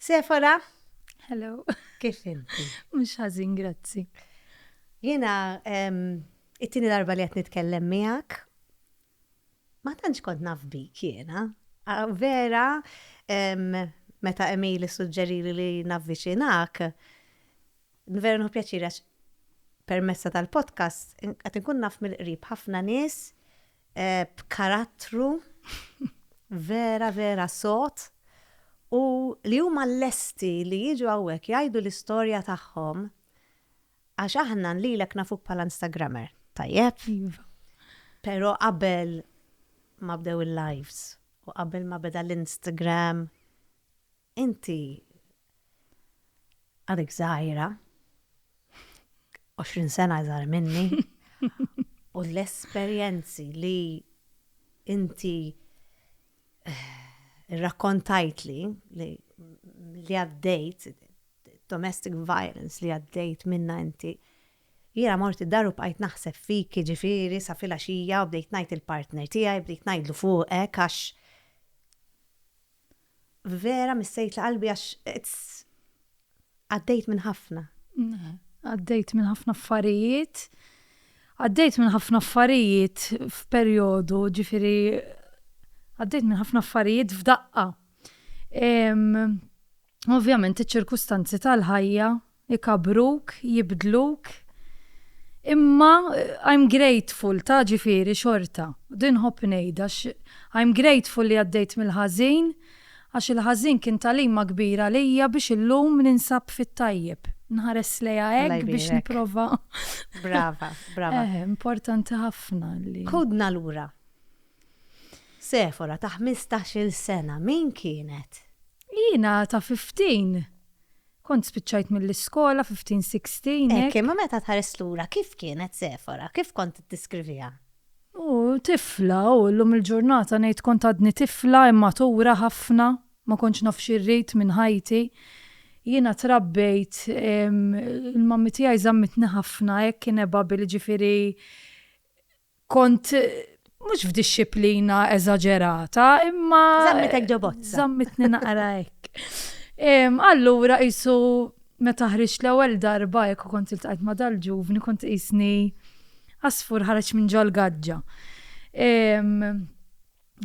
Sefora? Hello. Kif inti? Mhux ħażin, grazzi. Jiena it-tieni darba li qed nitkellem miegħek. Ma tantx kont naf bik jiena. Vera, meta Emil suġġerili li navviċinak, vera nħu pjaċira permessa tal-podcast, għat nkun naf mill-qrib ħafna nies b'karattru vera vera sod u li huma lesti li jiġu hawnhekk jgħidu l-istorja tagħhom għax aħna lilek nafuk bħala Instagrammer, tajjeb? Iva. Però qabel ma bdew il-lives u qabel ma beda l-Instagram Inti għadek żgħira, 20 sena iżgħar minni, u l-esperjenzi li inti eh, rrakkontajtli li li għaddejt, domestic violence li għaddejt minna inti, jira morti daru bqajt naħseb fik ġifiri sa fila xija u bdejt najt il-partner tijaj, bdejt najdlu fuqek għax Vera missejtla qalbi għax għaddejt minn ħafna. Għaddejt minn ħafna affarijiet. Għaddejt minn ħafna affarijiet f'perjodu, ġifieri għaddejt minn ħafna affarijiet f'daqqa. Ovvjament iċ-ċirkustanzi tal-ħajja Ikabbruk, jibdluk. Imma I'm grateful ta' ġifieri xorta. Din nħobb ngħidha għax I'm grateful li għaddejt mill-ħażin għax il-ħażin kien tagħlima kbira għalija biex illum ninsab fit-tajjeb. Nħares lejha hekk biex nipprova. Brava, brava. Eh, importanti ħafna li. Ħudna lura. Sefora ta' ħmistax-il sena min kienet? Jiena ta' fifteen. Kont spiċċajt mill-iskola fi ftin sikstin, hekk. Hekk, imma meta tħares lura, kif kienet Sefora? Kif kont tiddeskriviha? U, tifla, u llum il-ġurnata ngħid kont għadni tifla, immatura ħafna, ma kontx naf xi rrid minn ħajti. Jiena trabbejt, il-mummy tiegħi żammitni ħafna hekk inevable, jiġifieri, Kont mhux f'dixxiplina eżaġerata, imma. Żammitek ġo bozza. Żammitni naqra hekk. Allura qisu meta ħriġt l-ewwel darba hekk u kont iltqajt ma' dal-ġuvni kont qisni għasfur ħareġ minn ġol-gaġġa.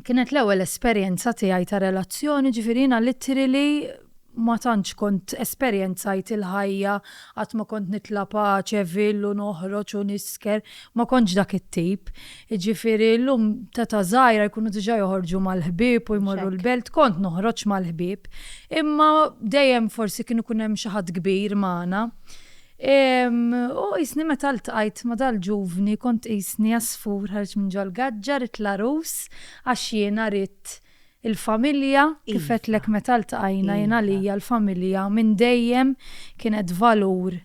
Kienet l-ewwel esperjenza tiegħi ta' relazzjoni, ġifieri jiena literally ma tantx kont esperjenzajt il-ħajja, qatt ma kont nitla' p'għaċevil u noħroġ u nisker, ma kontx dak it-tip. Jiġifieri llum t'età żgħira jkunu diġà joħorġu mal-ħbieb u jmorru l-belt, kont noħroġ mal-ħbieb, imma dejjem forsi kien ikun hemm xi ħadd kbir magħna. U qisni meta ltqajt ma' dal-ġuvni kont qisni għasfur ħareġ minn ġol-gaġġa, ridt l-għarus għax jiena ridt il-familja, kif għedtlek meta ltqajna jien għalija l-familja minn dejjem kienet valur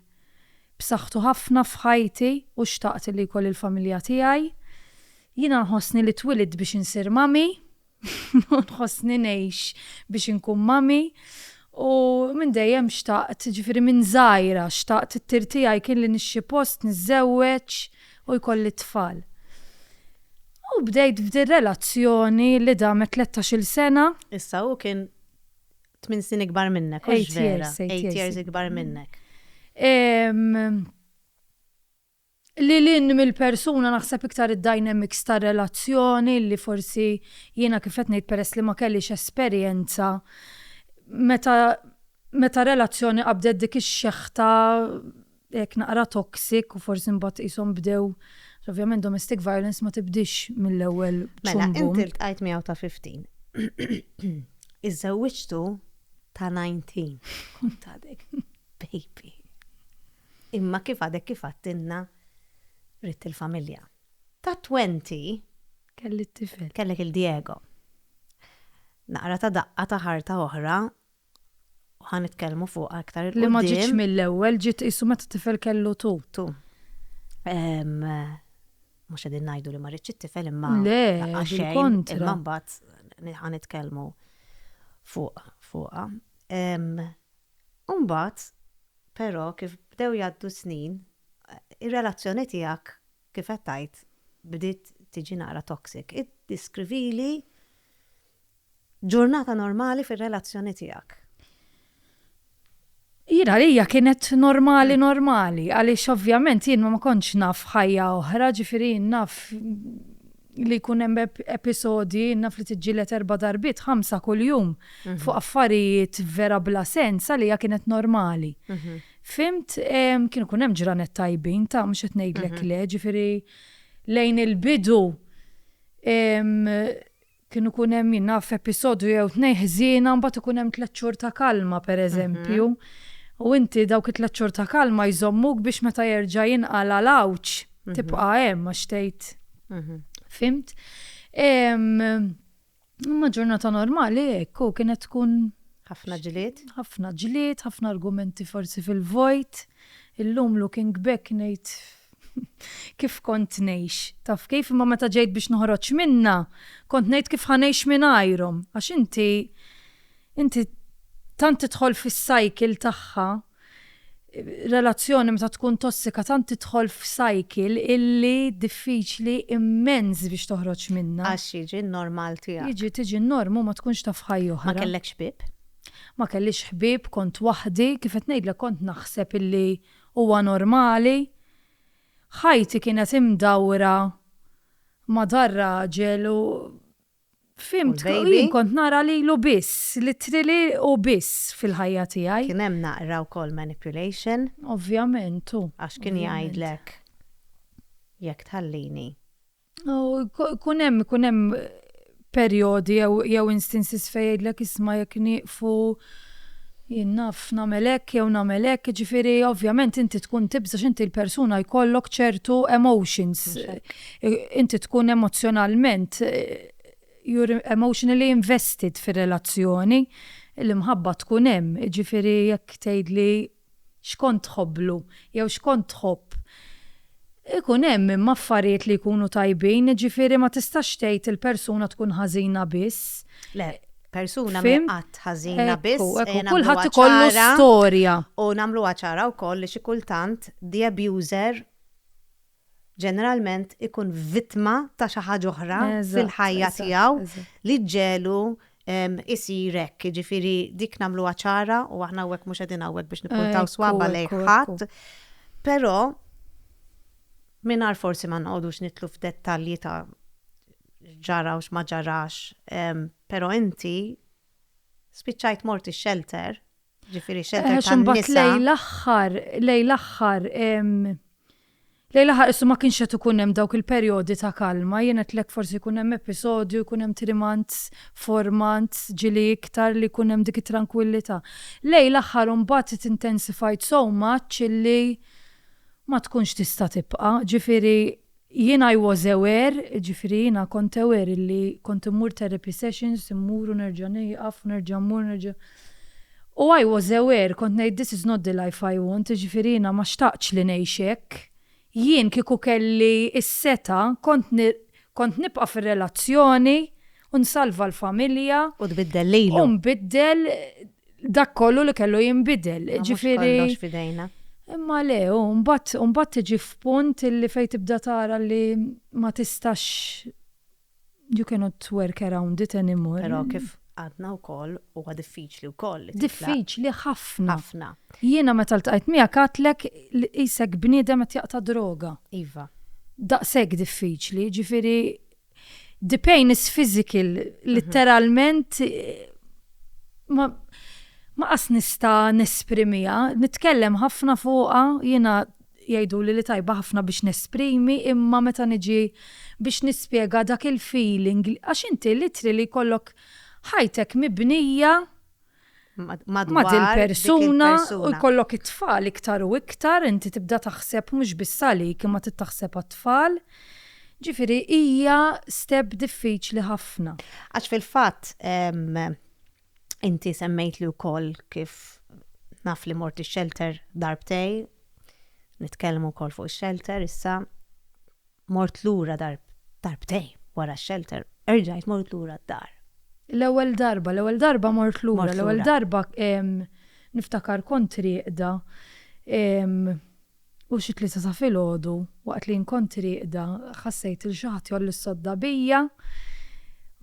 b'saħħtu ħafna f'ħajti u xtaqt li jkolli l-familja tiegħi. Jiena nħossni li twilidt biex insir mami. u nħossni ngħix biex inkun mami u minn dejjem xtaqt, ġifieri minn żgħira xtaqt it-tir tiegħi kien li nixxi post, niżżewweġ u jkolli t-tfal. U bdejt f'dir-relazzjoni li damet tlettax-il sena. Issa hu kien tmien snin ikbar minnek, hux vera? Eight years ikbar minnek. Lil hinn mill-persuna naħseb iktar id-dynamics tar-relazzjoni li forsi jiena kif qed ngħid peress li ma kellix esperjenza meta meta relazzjoni qabdet dik ix-xeħta hekk naqra toxic u forsi mbagħad qishom bdew ovvjament domestic violence ma tibdiex mill-ewwel bċumm bumm. Mela int iltqajt miegħu ta' 15. Iżżewwiġtu ta' 19. Kont għadek baby. Imma kif għadek kif għadtilna ridt il-familja. Tat-twenty. Kelli t-tifel. Kellek il-Diego. Naqra ta' daqqa ta' ħarta oħra u ħa nitkellmu fuqha iktar 'il quddiem. Li ma ġietx mill-ewwel, ġiet qisu meta t-tifel kellu two. Two. Mhux qegħdin ngħidu li ma ridtx it-tifel imma. Le, bil-kontra. Imma mbagħad ħa nitkellmu fuqha. U mbagħad, però, kif bdew jgħaddu s-snin, ir-relazzjoni tiegħek, kif qed tgħid, bdiet tiġi naqra toxic. Iddiskrivili ġurnata normali fir-relazzjoni tiegħek. Jien għalija kienet normali normali, għaliex ovvjament jien ma kontx naf ħajja oħra, ġifieri jien naf, li jkun hemm episodji naf li tiġġieled erba' darbiet, ħamsa kuljum fuq affarijiet vera bla sens għalija kienet normali. Fimt, kienu kun hemm ġranet tajbin ta' mhux qed ngħidlek le, ġifieri lejn il-bidu kienu kun hemm jien naf episodju jew tnejn ħżiena mbagħad ikun hemm tliet xhur ta' kalma pereżempju. U inti dawk it-tliet xhur ta' kalma jżommuk biex meta jerġa' jinqala' l-għawġ. tibqa' hemm għax tgħid. Fimt? Imma ġurnata normali hekk u kienet tkun ħafna ġlied. Ħafna ġlied, ħafna argumenti forsi fil-vojt. Illum looking back ngħid kif kont ngħix. Taf kif imma meta ġejt biex noħroġ minna, kont ngħid kif ħanejx minn għajrom. Għax inti inti tant tidħol fis-cycle tagħha Relazzjoni meta tkun tossika tant tidħol f'cycle illi diffiċli immens biex toħroġ minnha. Għax jiġi n-normal tiegħek. Jiġi tiġi n-norm u ma tkunx taf ħajja oħra. Ma kellekx ħbieb? Ma kellix ħbieb, kont waħdi, kif qed ngħidlek kont naħseb illi huwa normali. Ħajti kienet imdawra ma' dar-raġel u. Fimt, jien kont nara lilu biss, literally hu biss fil-ħajja tiegħi. Kien hemm naqra wkoll manipulation. Ovvjament, hu. Għax kien jgħidlek jekk tħallini. Ikun hemm, ikun hemm perjodi jew instances fejn jgħidlek isma' jekk nieqfu jien naf nagħmel hekk jew nagħmel hekk, jiġifieri ovvjament inti tkun tibża' x'inti l-persuna jkollok ċertu emotions. Inti tkun emozzjonalment, you're emotionally invested fir-relazzjoni, l-imħabba tkun hemm, jiġifieri jekk tgħidli x'kont tħobblu jew x'kont tħobb, ikun hemm imma affarijiet li jkunu tajbin, jiġifieri ma tistax tgħid il-persuna tkun ħażina biss. Le, persuna mhi qatt ħażina biss. Ekku, ekku, kulħadd ikollu storja. U nagħmluha ċara wkoll li xi kultant the abuser ġeneralment ikun vittma ta' xi ħaġa oħra fil-ħajja tiegħu li ġġegħlu jsir hekk. Jiġifieri dik nagħmluha ċara u aħna hawnhekk mhux qegħdin hawnhekk biex nippuntaw swaba' lejn ħadd. Però mingħajr forsi ma noqogħdux nidħlu f'dettalji ta' x'ġara u x'ma ġarax, però inti spiċċajt mort ix-xelter, Ġifiri xedda eh, tan-nisa. Lej l-aħħar, lej l-aħħar, lej l-aħħar issu ma kienx qed ikun hemm dawk il-perjodi ta' kalma, jien qed lek forsi jkun hemm episodju, jkun hemm trimant, formant, ġili iktar li jkun hemm dik it-trankwillità. Lej l-aħħar imbagħad it intensifajt so much illi ma tkunx tista' tibqa', ġifieri Jiena I was aware, jiġifieri jiena kont aware illi kont immur therapy sessions, immur u nerġa' nieqaf u nerġa' mmur u nerġa'. U I was aware, kont ngħid this is not the life I want, jiġifieri jiena ma xtaqtx li ngħix hekk. Jien kieku kelli s-setgħa kont kont nibqa' fir-relazzjoni u nsalva l-familja. U tbiddel lejlu. U nbiddel dak kollu li kellu jinbidel. Ġifieri. Kollox fidejna. Imma le, u mbagħad u mbagħad tiġi f'punt li fejn tibda tara li ma tistax you cannot work around it anymore. Però kif għadna wkoll huwa diffiċli wkoll li titlaq. Diffiċli ħafna. Ħafna. Jiena meta ltqajt miegħek għidtlek li qisek bniedem qed jaqta' droga. Iva. Daqshekk diffiċli, ġifieri The pain is physical, mhm. literalment ma ma qas nista nesprimija, nitkellem ħafna fuqa, jina jajdu li li tajba ħafna biex nesprimi, imma meta niġi biex nispiega dak il-feeling, għax inti litri li kollok ħajtek mibnija madwar ma' dil-persuna u jkollok it-tfal iktar u iktar, inti tibda taħseb mhux biss għalik imma trid taħseb għat-tfal. Ġifieri hija step diffiċli ħafna. Għax fil-fatt inti semmejtli wkoll kif naf li mort ix-xelter darbtejn, nitkellmu wkoll fuq ix-xelter issa, Mort lura darbtejn wara x-shelter, erġajt mort lura d-dar. L-ewwel darba, l-ewwel darba mort lura, l-ewwel darba niftakar kont rieqda u xi tlieta ta' filgħodu waqt li jien kont rieqda ħassejt lil xi ħadd jgħolli s-sodda bija,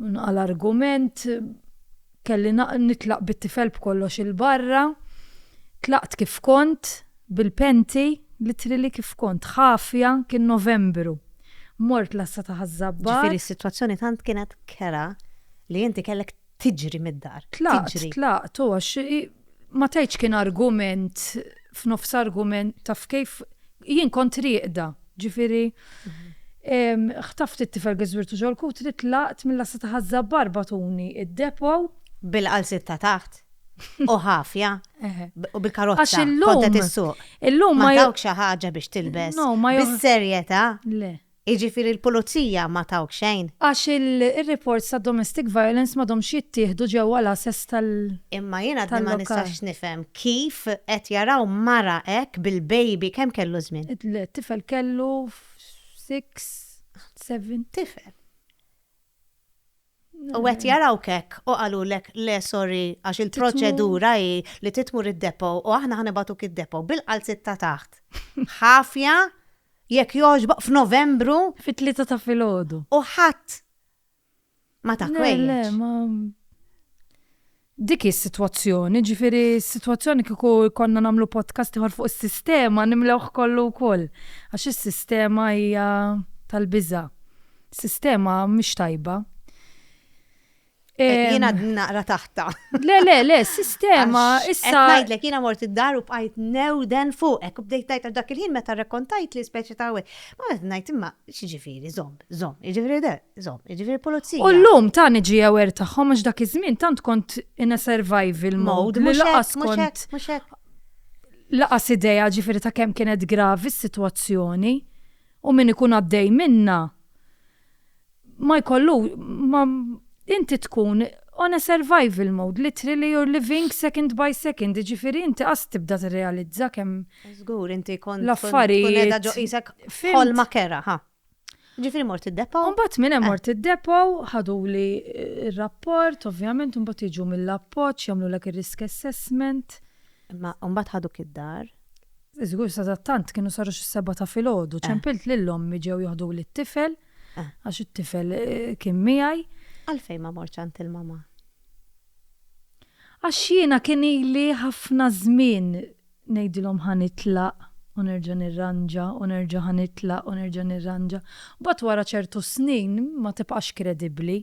nqa' l-argument, kelli nitlaq bit-tifel b'kollox 'il barra, tlaqt kif kont, Bil-penti, l-ittri li kif kont ħafja kien Novembru. Mort l-għassa ta' Ħaż-Żabbar. Ġifieri s-sitwazzjoni tant kienet kerha li inti kellek tiġri mid-dar. Tlaqt, tlaqt, u għax ma tgħidx kien argument f'nofs argument, taf kif, jien kont rieqda, ġifieri ħtaft it-tifel Gisbirtu ġol-kutri, tlaqt mill-għassa ta' Ħaż-Żabbar bagħtuni d-depot. Bil-qalsiet ta' taħt? u ħafja u bil-karozza. Għax illum. Illum ma tawk xi ħaġa biex tilbes. No, ma jgħu. Bis-serjetà. Le. Iġifiri l-pulizija ma tawk xejn. Għax il-reports ta' domestic violence ma domx jittieħdu ġewwa l-assess tal. Imma jiena għadni ma nistax nifhem kif qed jaraw mara hekk bil-baby kemm kellu żmien. Le, tifel kellu six, seven. Tifel. U qed jarawk hekk u qalulek le sorry għax il-proċedura hi li titmur id-depo u aħna ħa nibagħtuk id-depo bil-qalziet ta' taħt. Ħafja jekk jogħġbok f'Novembru. Fit-tlieta ta' filgħodu. U ħadd ma ta kwejjeġ. Le, le, ma. Dik hi s-sitwazzjoni, jiġifieri s-sitwazzjoni kieku jkollna nagħmlu podcast ieħor fuq is-sistema nimlewh kollu wkoll għax is-sistema hija tal-biża'. Is-sistema mhix tajba. Jien għadni naqra taħtha. Le, le, le, sistema issa. Qed ngħidlek jiena mort id-dar u bqajt newden fuqek u bdejt ngħid dak il-ħin meta rrakkontajt li speċi ta' Ma qed ngħid imma x'jiġifieri żomm, żomm, jiġifieri Zom, ġifiri pulizija. U l-lum ta' niġi aware tagħhom għax dak iż-żmien tant kont in a survival mode li laqas kont. Laqas idea ġifiri ta' kemm kienet gravi s-sitwazzjoni u min ikun għaddej minna ma jkollu ma inti tkun on a survival mode, literally you're living second by second, ġifiri inti qas tibda tirrealizza kemm. Żgur, inti kont. L-affarijiet. Tkun qiegħda ġo isek ħolma kera, ha. Ġifiri mort id-depo? Umbat minn hemm eh. mort id-depo, ħaduli eh, r-rapport, ovvjament, umbat jiġu mill-appoġġ, jagħmlulek ir-risk assessment. Imma umbat ħaduk id-dar? Iżgur sa tant kienu saru xi seba ta' filgħodu, eh. ċempilt lil ommi ġew joħdu lit tifel għax it-tifel kien miegħi. Għalfejn ma morċ għand il-mama? Għax jiena kien ili ħafna żmien ngħidilhom ħa nitlaq u nerġa' nirranġa u nerġa' ħa nitlaq u nerġa' nirranġa. Mbagħad wara ċertu snin ma tibqax kredibbli.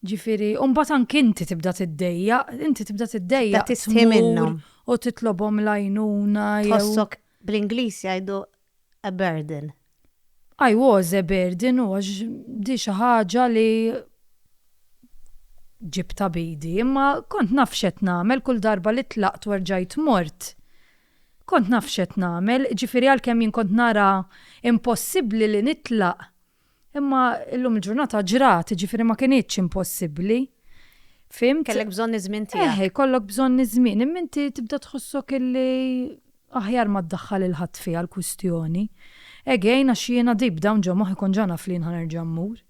Ġifieri, u mbagħad anki inti tibda tiddejjaq, inti tibda tiddejjaq tmur u titlobhom l-għajnuna jew. Tħossok, bl-Ingliż jgħidu a burden. I was a burden u għax di xi ħaġa li ġibtha b'idi, imma kont naf x'qed nagħmel kull darba li tlaqt u rġajt mort. Kont naf x'qed nagħmel, jiġifieri għalkemm jien kont nara impossibbli li nitlaq, Imma illum il-ġurnata ġrat, jiġifieri ma kinitx impossibbli. Fhimt? Kellek bżonn iż-żmien tiegħek. Eħe, jkollok bżonn iż-żmien, imma inti tibda tħossok illi aħjar ma ddaħħal lil ħadd fiha l-kwistjoni. Again, għax jiena deep down ġo moħħi kont ġa naf li jien ħa nerġa' mmur.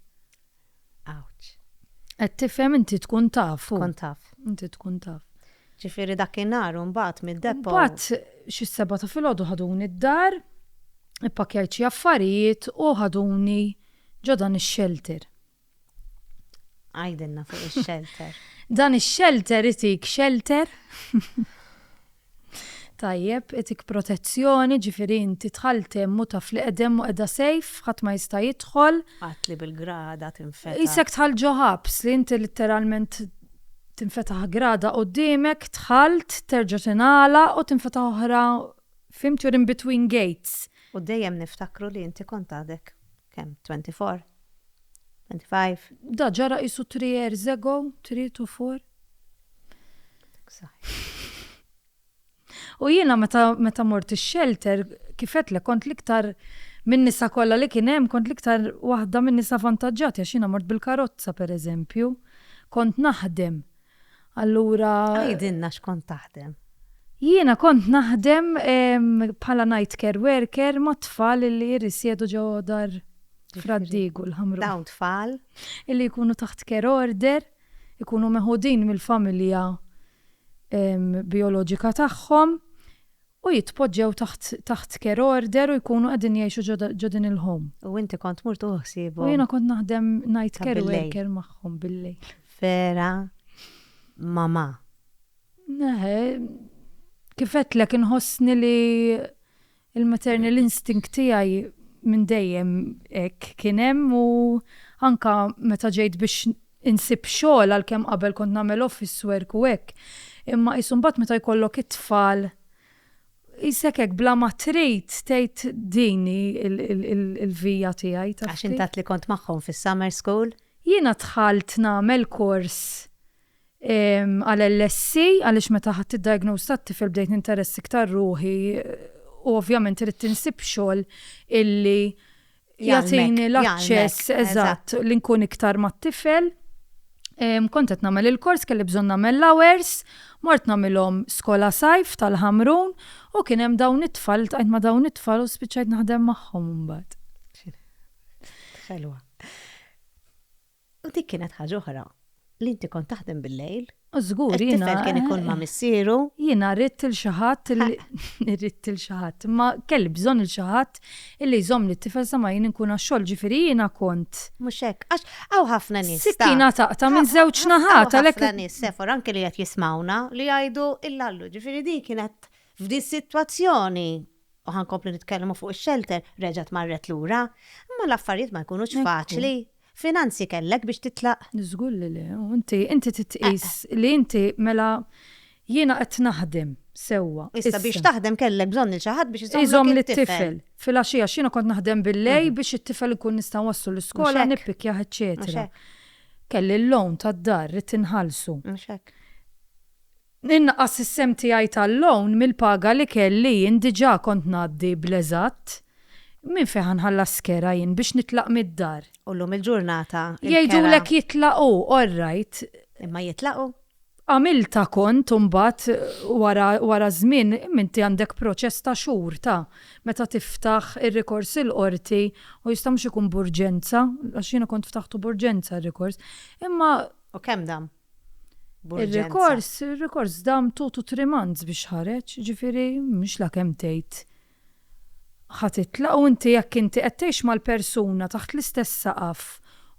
Ouch. Qed tifhem inti tkun taf. Kont taf. Inti tkun taf. Ġifieri dakinhar u mbagħad mid-depot. Mbagħad xi s-sebgħa ta' filgħodu ħaduni d-dar, ippakkjajt xi affarijiet u ħaduni ġo dan ix-xelter. Għidilna fuq ix-xelter. Dan ix-xelter itik xelter. Tajjeb, itik protezzjoni, ġifieri inti tħalt hemm u taf li qegħdem u qiegħda sejf, ħadd ma jista' jidħol. Qatt li bil-grada tinfetaħ. Isek tħall ġo ħabs li inti litteralment Tinfetaħ grada quddiemek, dħalt, terġa' tingħalaq u tinfetaħ oħra f'him you're in between gates. U dejjem niftakru li inti kont għadek, kemm, 24? 25? Da ġara qisu three years ago, three to four. Għadek żgħir. U jiena meta meta mort ix-shelter, kif għedtlek kont l-iktar min-nisa kollha li kien hemm kont l-iktar waħda min-nisa vantaġġati għax jiena mort bil-karozza pereżempju. Kont naħdem. Allura. Għidilna x'kont taħdem. Jiena kont naħdem bħala night care worker mat-tfal illi jirrisjedu ġo dar Frad-Diegu l-Ħamrun. Dawn tfal? Illi jkunu taħt care order, ikunu meħudin mill-familja bijoloġika tagħhom u jitpoġġew taħt taħt care order u jkunu qegħdin jgħixu ġo ġo din il-home. U inti kont mur tuħu ħsiebhom? U jiena kont naħdem night Ta' care bil-lejl. worker magħhom bil-lejl. Vera mamà. Eħe, kif għedtlek inħossni li Il-maternal instinct tiegħi minn dejjem hekk kien hemm u anke meta ġejt biex insib xogħol għalkemm qabel kont nagħmel office work u hekk imma qisu mbagħad meta jkollok it-tfal qisek hekk bla ma trid tgħid din hi l-via tiegħi, taf kif. Għax int għedt li kont magħhom fis-summer school? Jiena dħalt nagħmel kors Għal LSC, għaliex meta ħadt id-diagnosis tat-tifel bdejt ninteress iktar ruħi u ovvjament ridt insib xogħol illi jagħtini l-aċċess eżatt li nkun iktar mat-tifel. Kont qed nagħmel il-kors, kelli bżonn nagħmel l-hours, mort nagħmilhom skola sajf tal-Ħamrun u kien hemm dawn it-tfal, iltqajt ma' dawn it-tfal u spiċċajt naħdem magħhom imbagħad. X'ħelwa. U dik kienet ħaġa oħra, li inti kont taħdem bil-lejl. U żgur jiena. It-tifel kien ikun ma' missieru. Jiena ridt lil xi ħadd li ridt lil xi ħadd, imma kelli bżonn lil xi ħadd illi jżommli t-tifel sa ma jien inkun għax-xogħol, ġifieri jiena kont. Mhux hekk, għax hawn ħafna nies. Sikkina taqta' minn żewġ naħat għalhekk. Hawn ħafna nies, Sephora, anke li qed jismgħuna, li jgħidu, il-Lallu, ġifieri din kienet f'din is-sitwazzjoni u ħa nkomplu nitkellmu fuq ix-xelter, reġgħet marret lura. Imma l-affarijiet ma jkunux faċli. Finanzi kellek biex titlaq? Żgur li le, u inti, inti trid tqis li inti mela jiena qed naħdem sewwa. Issa biex taħdem kellek bżonn lil xi ħadd biex iżommlok it-tifel. Filgħaxija għax jiena kont naħdem bil-lejl biex it-tifel inkun nista' nwasslu l-iskola, nippikkjah eċċetera. Kelli l-loan tad-dar ridt inħallsu. Mhux hekk. Innaqqas is-sehem tiegħi tal-loan mill-paga li kelli jien diġà kont ngħaddi bl-eżatt. Minn fejn ħa nħallas kera jien biex nitlaq mid-dar? U llum il-ġurnata il-kera. Jgħidulek jitlaqu, all right. Imma jitlaqu? Għamiltha kont u mbagħad wara wara żmien imma inti għandek proċess ta' xhur ta' meta tiftaħ ir-rikors il-qorti u jista' mhux ikun b'urġenza għax jiena kont ftaħtu b'urġenza r-rikors imma. U kemm dam? Ir-rikors, ir-rikors dam two to three months biex ħareġ, jiġifieri mhux la kemm tgħid ħa titlaq u inti jekk inti qed tgħix mal-persuna taħt l-istess saqaf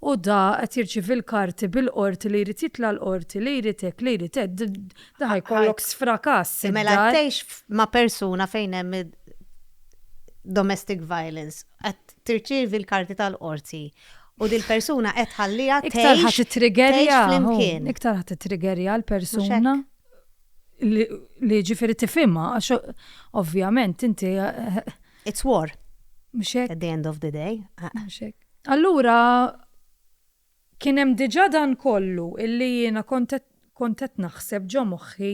u da qed jirċievi l-karti bil-qorti li jrid jitla' l-qorti, li jrid hekk, li jrid hekk, da ħa jkollok sfrakas. Mela qed tgħix ma' persuna fejn hemm domestic violence, qed tirċievi l-karti tal-qorti U dil-persuna qed tħalliha tgħix. Iktar ħa tittrigerja. Iktar ħa tittrigerja l-persuna li ġifieri tifhimha għax ovvjament inti. It's war. Mhux hekk. At the end of the day. Mhux hekk. Allura kien hemm diġà dan kollu illi jiena kont qed naħseb ġo moħħi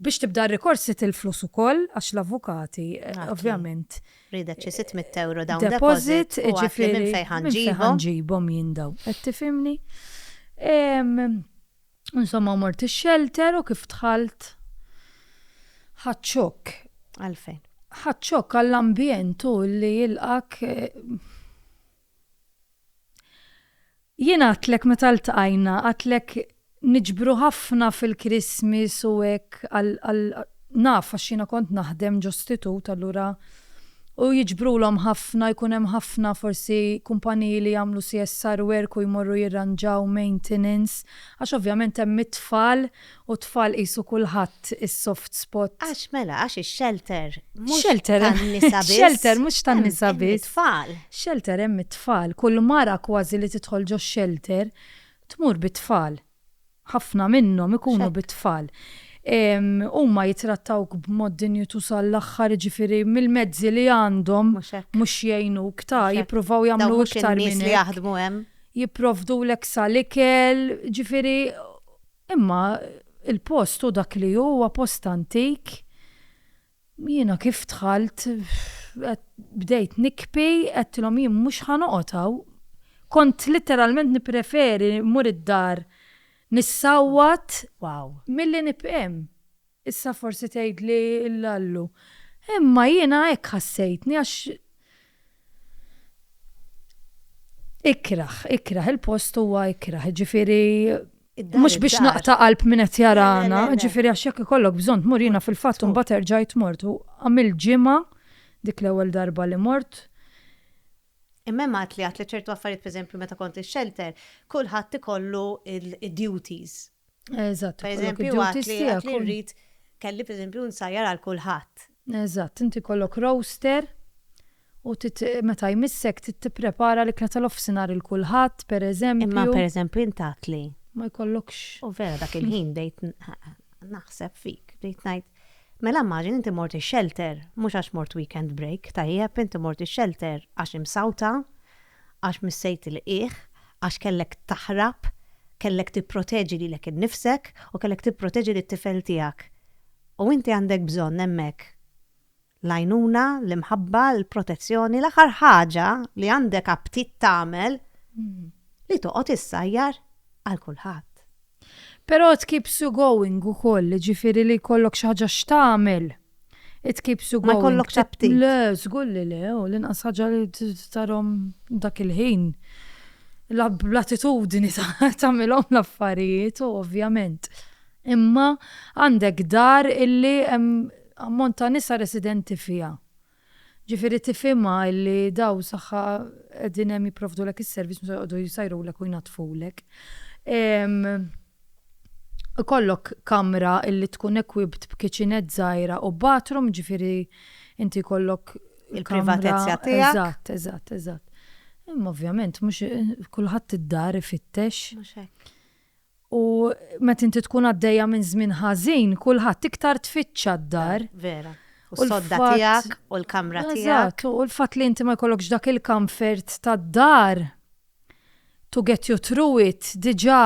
Biex tibda r-rikors trid il-flus ukoll għax l-avukati ovvjament. Ridek xi sitt mitt ewro down deposit u għidli minn fejn ħa nġibhom. Minn fejn ħa nġibhom jien dawn. Qed tifhimni? Insomma mort ix-xelter u kif dħalt ħadt xokk. Għalfejn? Ħadt xokk għall-ambjent u li jilqgħek Jien għadtlek meta ltqajna, għadtlek niġbru ħafna fil-Christmas u hekk għal naf għax jiena kont naħdem ġo stitut allura u jiġbrulhom ħafna jkun hemm ħafna forsi kumpaniji li jagħmlu CSR work u jmorru jirranġaw maintenance għax ovvjament hemm it-tfal U t-tfal qisu kulħadd is-soft spot. Għax mela, għax ix-xelter mhux tan-nisa biss. Xelter mhux tan-nisa biss. Hemm it-tfal. Xelter hemm it-tfal. Kull mara kważi li tidħol ġox-xelter tmur bit-tfal. Ħafna minnhom ikunu bit-tfal. Huma jittrattawk b'mod dinjitu sal-aħħar jiġifieri mill-mezzi li għandhom mhux jgħinuk ta' jippruvaw jagħmlu iktar minn hekk. Dawn mhux in-nies li jaħdmu hemm. Jipprovdulek sal-ikel, jiġifieri Imma il-post hu dak li hu, huwa post antik. Jiena kif dħalt qed bdejt nikbi, għedtilhom jien mhux ħa noqgħod hawn. Kont litteralment nippreferi mmur id-dar nissawwat milli nibqa' hemm. Issa forsi tgħidli, Lallu, imma jiena hekk ħassejtni għax ikrah, ikrah, il-post huwa ikrah, jiġifieri mhux biex naqta' qalb min qed jarana, jiġifieri għax jekk ikollok bżonn tmur jiena fil-fatt imbagħad erġajt mort u għamilt ġimgħa dik l-ewwel darba li mort. Imma hemm għad li għad li ċertu affarijiet pereżempju meta kont ix-shelter kulħadd ikollu d-duties Eżatt. Per eżempju, għat li rrit kelli per eżempju nsajjar għal kulħadd. Eżatt, inti kollok roaster u meta jmissek tipprepara l-ikla tal-offsinar il kulħadd per eżempju. Imma per eżempju intat li. Ma jkollokx. U vera dak il-ħin bdejt naħseb fik, bdejt ngħid. Mela maġin inti morti shelter, mhux għax mort weekend break, tajjeb inti morti shelter għax imsawta, għax missejt tilqigħ, għax kellek taħrab, kellek tipproteġi lilek innifsek u kellek tipproteġi lit-tifel tiegħek. U inti għandek bżonn hemmhekk l-għajnuna, l-imħabba, l-protezzjoni, l-aħħar ħaġa li għandek aptit tagħmel li toqgħod issajjar għal kulħadd. Però it keeps you going ukoll, jiġifieri li jkollok xi ħaġa x'tagħmel. It keeps you going. Ma jkollokx aptit. Le, żgur li le, u l-inqas ħaġa li tarhom dak il-ħin. L-attitudni tagħmilhom l-affarijiet, ovvjament. Imma għandek dar illi hemm ammont ta' nisa residenti fiha. Ġifieri tifhimha illi daw saħħa qegħdin hemm jipprovdulek is-servizz mhux se joqogħdu jsajrulek u jnaddfulek. Ikollok kamra illi tkun equipped b'kiċinett żgħira u bathroom, ġifieri inti jkollok Il-privatezza tiegħek. Eżatt, eżatt, eżatt. Imma ovvjament mhux kulħadd id-dar ifittex. Mhux hekk. U meta inti tkun għaddejja minn żmien ħażin, kulħadd iktar tfittxa d-dar. Vera. U s-sodda tiegħek u l-kamra tiegħek. Eżatt, u l-fatt li inti ma jkollokx dak il-comfort tad-dar to get you through it diġà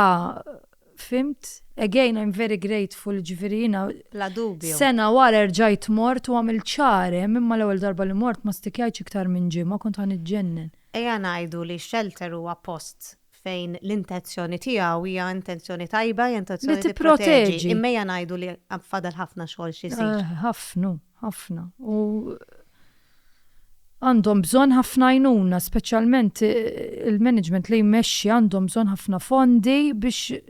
fhimt? Again, I'm very grateful, ġifieri jiena. Bla dubju. Sena wara rġajt mort u għamilt xahar hemm, imma l-ewwel darba li mort ma stikjajtx iktar minn ġimgħa, kont ħa niġġennen. Ejja ngħidu li x-shelter huwa post fejn l-intenzjoni tiegħu hija intenzjoni tajba, hija intenzjoni li tipproteġi. Imma hija ngħidu li fadal ħafna xogħol xi jsir. Eh, ħafna, ħafna. U għandhom bżonn ħafna għajnuna, speċjalment eh, il-management li jmexxi għandhom bżonn ħafna fondi biex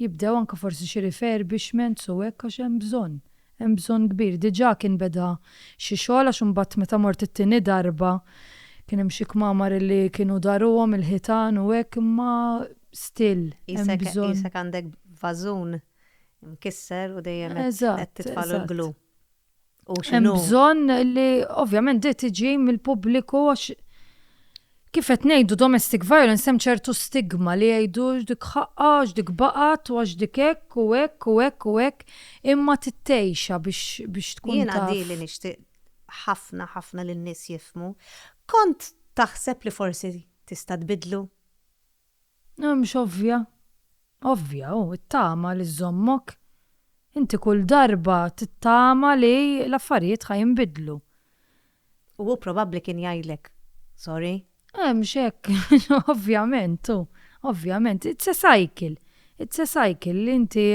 Jibdew anke forsi xi refurbishments u hekk għax hemm bżonn, hemm bżonn kbir. Diġà kien beda xi xogħol għax imbagħad meta mort it-tieni darba kien hemm xi kmamar li kienu daruhom il-ħitan u hekk imma still hemm bżonn. Qisek għandek vażun mkisser u dejjem qed titfagħlu l-glue. U xinu? Bżon li ovvjament di tiġi mill-pubbliku għax kif qed ngħidu domestic violence hemm ċertu stigma li jgħidu dik ħaqqa, dik baqgħet u għax dik hekk u hekk u hekk u hekk imma tittejxa biex biex tkun. Jiena di li nixtieq ħafna ħafna lin-nies jifmu. Kont taħseb li forsi tista' tbidlu? Mhux ovvja? Ovvja, hu, it-tama li żżommok. Inti kull darba tittama li l-affarijiet ħa jinbidlu. U hu probabbli kien jgħidlek, Sorry. Mhux hekk? Ovvjament, hu, ovvjament. It's a cycle. It's a cycle li inti.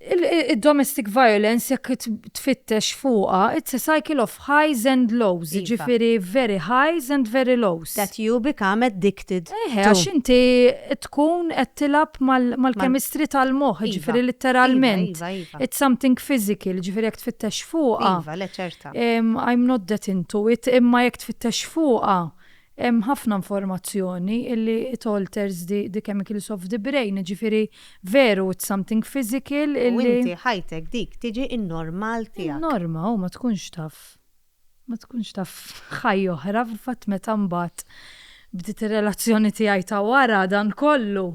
il-domestic violence jekk tfittex fuqha, it's a cycle of highs and lows, iva. jiġifieri very highs and very lows. That you become addicted. Eħe, għax inti tkun qed tilab mal-kemistri tal-moħħ, iva. ġifieri litteralment. Iva, iva, it's something physical, ġifieri jekk tfittex fuqha. Iva, le ċerta. I'm not that into it, imma jekk tfittex fuqha, Hemm ħafna informazzjoni illi it alters the the chemicals of the brain, jiġifieri veru it's something physical U illi. inti ħajtek dik tiġi n-normal tiegħek. In-norma u ma tkunx taf ma tkunx taf ħajja oħra fil-fatt meta mbagħad bdiet ir-relazzjoni tiegħi ta' wara dan kollu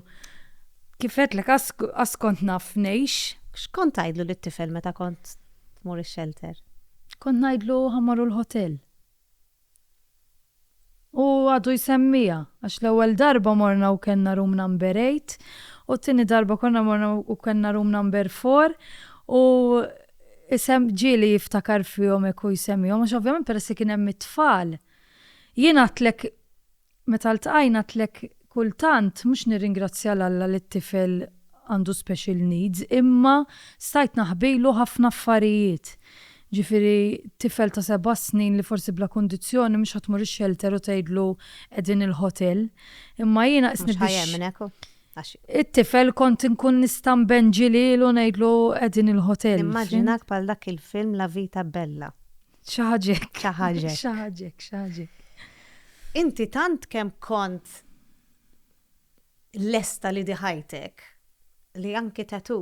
kif għedtlek qass qass kont naf ngħix. X'kont tgħidlu lit-tifel meta kont tmur ix-xelter? Kont ngħidlu ħa mmorru l-ħotel. U għadu jsemmiha, għax l-ewwel darba morna u kellna room number eight, u t-tieni darba konna morna u kellna room number four, u ġieli jiftakar fihom hekk u jsemmihom, għax ovvjament peress li kien hemm it-tfal. Jien għedtlek Meta ltqajna tlek kultant mhux nirringrazzja 'l Alla li t-tifel għandu special needs imma stajt naħbilu ħafna affarijiet. Ġifieri tifel ta' seba' snin li forsi bla kundizzjoni mhux ħa tmur ix-xelter u tgħidlu qegħdin il-ħotel. Imma jiena qisni biex. Mhux ħa jemmnek hu. Għax. It-tifel kont inkun nista' nbenġi lilu ngħidlu qegħdin il-ħotel. Nimmaġinak bħal dak il-film La vita bella. Xaħġek. Xaħġek. Xaħġek, xaħġek. Inti tant kem kont lesta li diħajtek li anki tatu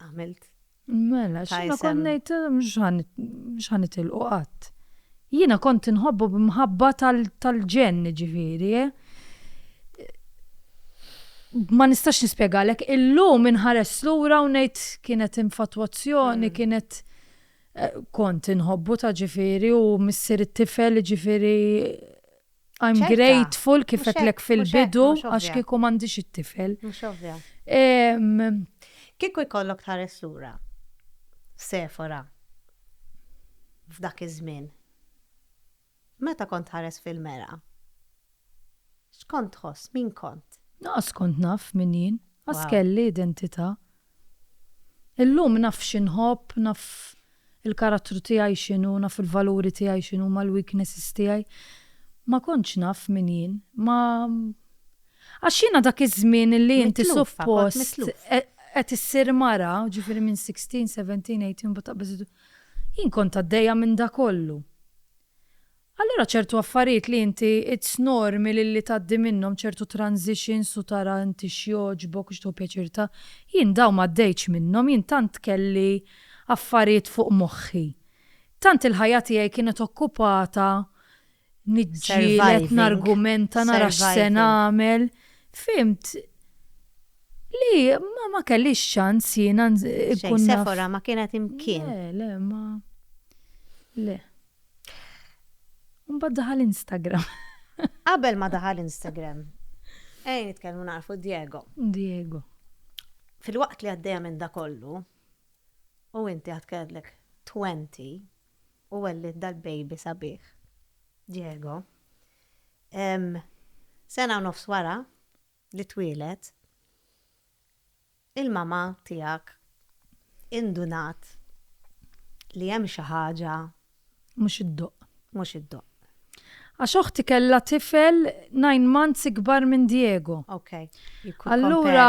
għamilt. Mela, xina konnejt mxħan itilqu qatt. Jina kont nħobbu b'mħabba tal-ġen ġifiri, eh? ma nistax nispjegalek, illum inħares lura u ngħid kienet infatuazzjoni, mm. kienet Kont inħobbuta ġifieri u missier it-tifel jiġifieri I'm grateful kif għedtlek fil-bidu għax kieku m'għandix it-tifel. Mhux ovvja. Kieku jkollok tħares lura f'Sefora f'dak iż-żmien. Meta kont tħares fil-mergħa, x'kont tħoss? Min kont? Naqas kont naf min jien. Qas kelli identità. Illum naf xi nħobb, naf il-karattru tiegħi x'inhu, naf il-valuri tiegħi x'inhuma, l-weaknesses tiegħi. Ma kontx naf min jien. Ma Għax jiena dak iż-żmien illi inti suppost qed issir mara, ġifieri minn sixteen, seventeen, eighteen, mbagħad taqbeż Jien kont għaddejja minn da kollu. Allura ċertu affarijiet li inti it's normy li li tgħaddi minnhom ċertu transitions u tara inti x'jogħġbok u x'tieħu pjaċir ta' jien dawn m'għaddejtx minnhom jien tant kelli affarijiet fuq moħħi. Tant il-ħajja tiegħi kienet okkupata niġġieled nargumenta nara x'se nagħmel fhimt li ma ma kellix ċans jiena nkun Sefora ma kienet imkien. Le, le, ma le. Mbagħad daħal Instagram. Qabel ma daħal Instagram. Ej nitkellmu narfu Diego. Diego. Fil-waqt li għaddejja minn da kollu, u inti għad kellek 20, u wellid dal-baby sabiħ, Diego. Sena u nofs wara li twieled, il-mamà tiegħek indunat li hemm xi ħaġa. Mhux iddoqq. Mhux iddoqq. Għax oħti kellha tifel nine months ikbar minn Diego. Okay. Allura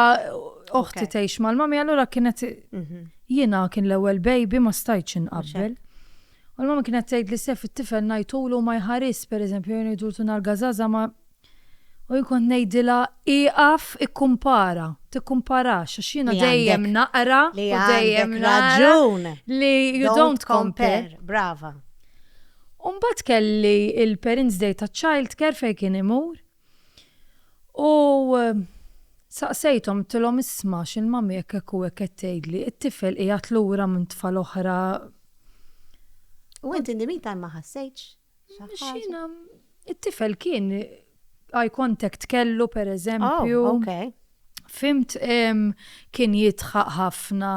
oħti tgħix mal-mami, allura kienet mhm. jiena kien l-ewwel baby ma stajtx inqabbel. U l-mama kienet tgħid li sef it-tifel ngħidulu ma jħares, pereżempju, jien ngħidultu nar gażaża ma U jien kont ngħidilha, ieqaf ikkumpara, tikkumparax għax jiena dejjem naqra u dejjem nara li you don't compare. Brava. U mbagħad kelli il-Parents Day taċ-Child Care fejn kien imur u saqsejthom tilhom isma' x'il-mami hekk hekk u hekk qed tgħidli, it-tifel qiegħed lura minn tfal oħra. U inti indimita ma ħassejtx? Xina, it-tifel kien eye contact kellu per eżempju. Oh, okay. Fimt kien jitħaq ħafna,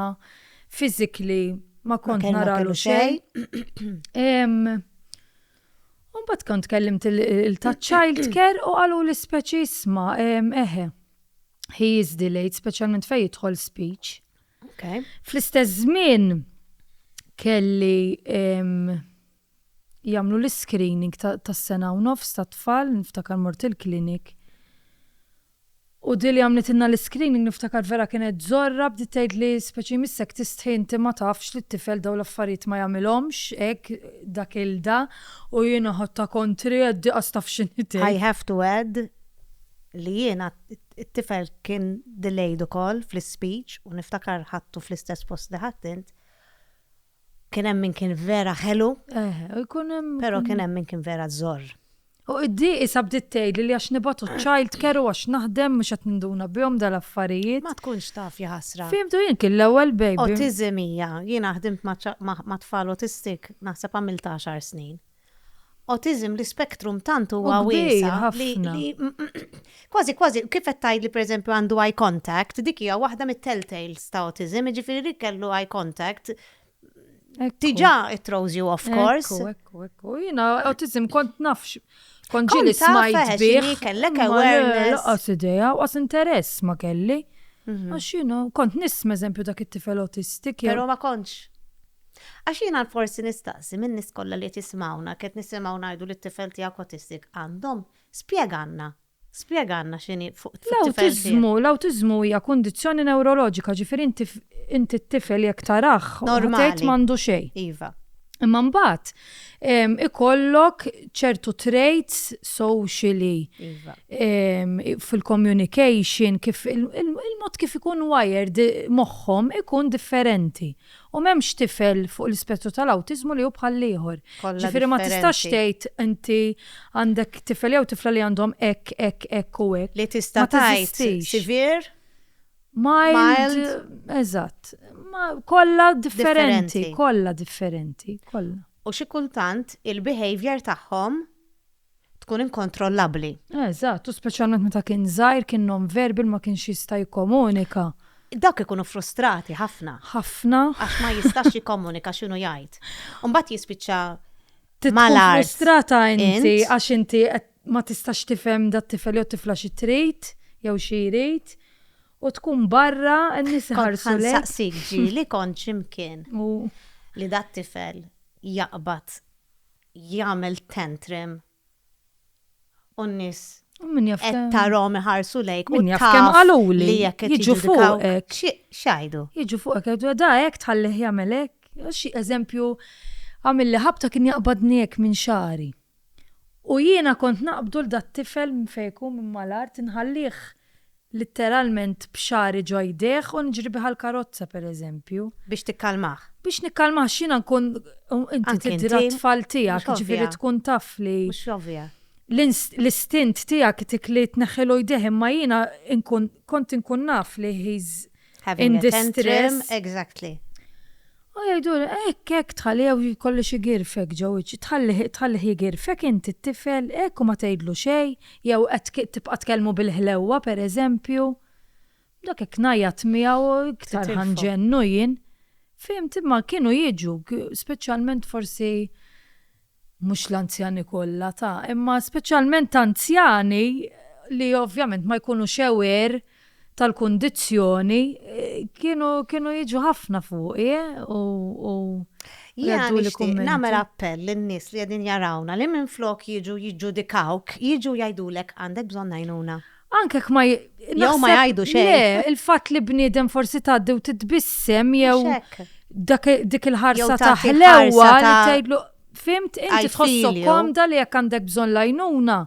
fizikli ma kont naralu xej. Un bat kont kellimt il-ta' child care u għalu l-speċi isma, eħe, he is delayed, specialment fej jitħol speech. Okay. Fl-istess żmien kelli jagħmlu l-iscreening tas-sena u nofs tat-tfal, niftakar mort il-clinic u di li għamlitilna l-iscreening niftakar vera kienet żorra, bdiet tgħidli speċi missek tistħi inti ma tafx li t-tifel dawn l-affarijiet ma jagħmilhomx hekk dak il-da u jiena ħadtha kontri għedt di qas taf x'inhi tgħid. I have to add li jiena t-tifel kien delayed ukoll fl-ispeech u niftakar ħadtu fl-istess post li ħadt int Kien hemm min kien vera ħelu. Eh, u jkun hemm. Però kien hemm min kien vera żorr. U id-di isa bdiet tgħidli li għax nibatu child care u għax naħdem mhux qed ninduna bihom dal-affarijiet. Ma tkunx taf ja ħasra. Fimtu jien kien l-ewwel baby. Autism hija, jiena ħdimt ma' tfal autistic naħseb għamilt għaxar snin. Awtiżm l-ispektrum tant huwa wiesa' li kważi kważi kif qed tgħidli pereżempju għandu eye contact, dik hija waħda mit-telltales ta' awtiżm, jiġifieri li kellu eye contact diġà it throws you off course. Ekku, ekku, ekku. Jiena awtiżm kont naf kont ġieli smajt bih. Kellek awareness. Laqas idea, u qas interess ma kelli. Mhm. Għax jiena kont nisma' eżempju dak it-tifel awtistik. Però ma kontx. Għax jiena l-forsi nistaqsi min-nies kollha li qed jismgħuna qed nisimgħu ngħidu li t-tifel tiegħek autistic għandhom, spjegalna, spjegalna x'inhi fuq it-tifel tiegħek. L-awtiżmu, l-awtiżmu hija kundizzjoni newroloġika, ġifieri inti inti t-tifel jekk tarah u tgħid m'għandu xejn. Normali, iva. Imma mbagħad ikollok ċertu traits socially fil-communication kif il-mod kif ikun wired moħħhom ikun differenti. U m'hemmx tifel fuq l-ispettru tal-awtiżmu li hu bħall-ieħor. Ġifieri ma tistax tgħid inti għandek tifel jew tifla li għandhom hekk, hekk, hekk u hekk. Li tista' tgħid severe, mild. Eżatt. Kollha differenti, kollha differenti, kollha. U xi kultant il-behaviour tagħhom tkun inkontrollabbli. Eżatt, u speċjalment meta kien żgħir, kien non-verbal, ma kienx jista' jikkomunika. Dawk ikunu frustrati ħafna. Ħafna. Għax ma jistax jikkomunika x'inhu jgħid. U mbagħad jispiċċa mal-art. Tkun frustrata inti għax inti qed ma tistax tifhem dat-tifel jew t-tifla xi trid jew xi jrid. U tkun barra, n-nies iħarsu lejk. Kont ħa nsaqsik ġieli kont x'imkien li dat-tifel jaqbad jagħmel tantrim u n-nies qed tarahom iħarsu lejk u taf kemm qaluli li jekk jiġu fuqek x'għidu. Jiġu fuqek jgħidu da hekk tħallih jagħmel hekk. Xi eżempju għamil li ħabta kien jaqbadni hekk minn xagħri. U jiena kont naqbdu l dat-tifel minn fejn ikun minn mal-art inħallih Litteralment b'xagħri ġo jdejh u niġri bih għall-karozza, pereżempju. Biex tikkalmah. Biex nikkalmah għax jiena nkun, u inti tiddi rat-tfal tiegħek, jiġifieri tkun taf li. Mhux ovvja. L-istint tiegħek dik li tneħħilu jdejh imma jiena nkun, kont inkun naf li he's, in distress. Exactly. U jgħidu, ekk, ekk, tħalli jew jkollu xi girfek ġew, tħalli jigirfek inti t-tifel, ekk u ma tgħidlu xejn, jew qed tibqa' tkellmu bil-ħlewwa pereżempju. Dak hekk ngħajjat miegħu iktar ħanġennu jien. Fimt, imma kienu jiġu, speċjalment forsi mhux l-anzjani kollha ta' imma speċjalment anzjani li ovvjament ma jkunux aware tal-kundizzjoni kienu kienu jiġu ħafna fuqi u u Jiena nixtieq nagħmel appell lin-nies li qegħdin jarawna li minflok jiġu jiġġudikawk, jiġu jgħidulek għandek bżonn għajnuna. Anke jekk ma jew ma jgħidu xejn. Il-fatt li bniedem forsi tgħaddi u titbissem jew dik il-ħarsa ta' ħlewwa li tgħidlu fimt inti tħossu komda li jekk għandek bżonn lajnuna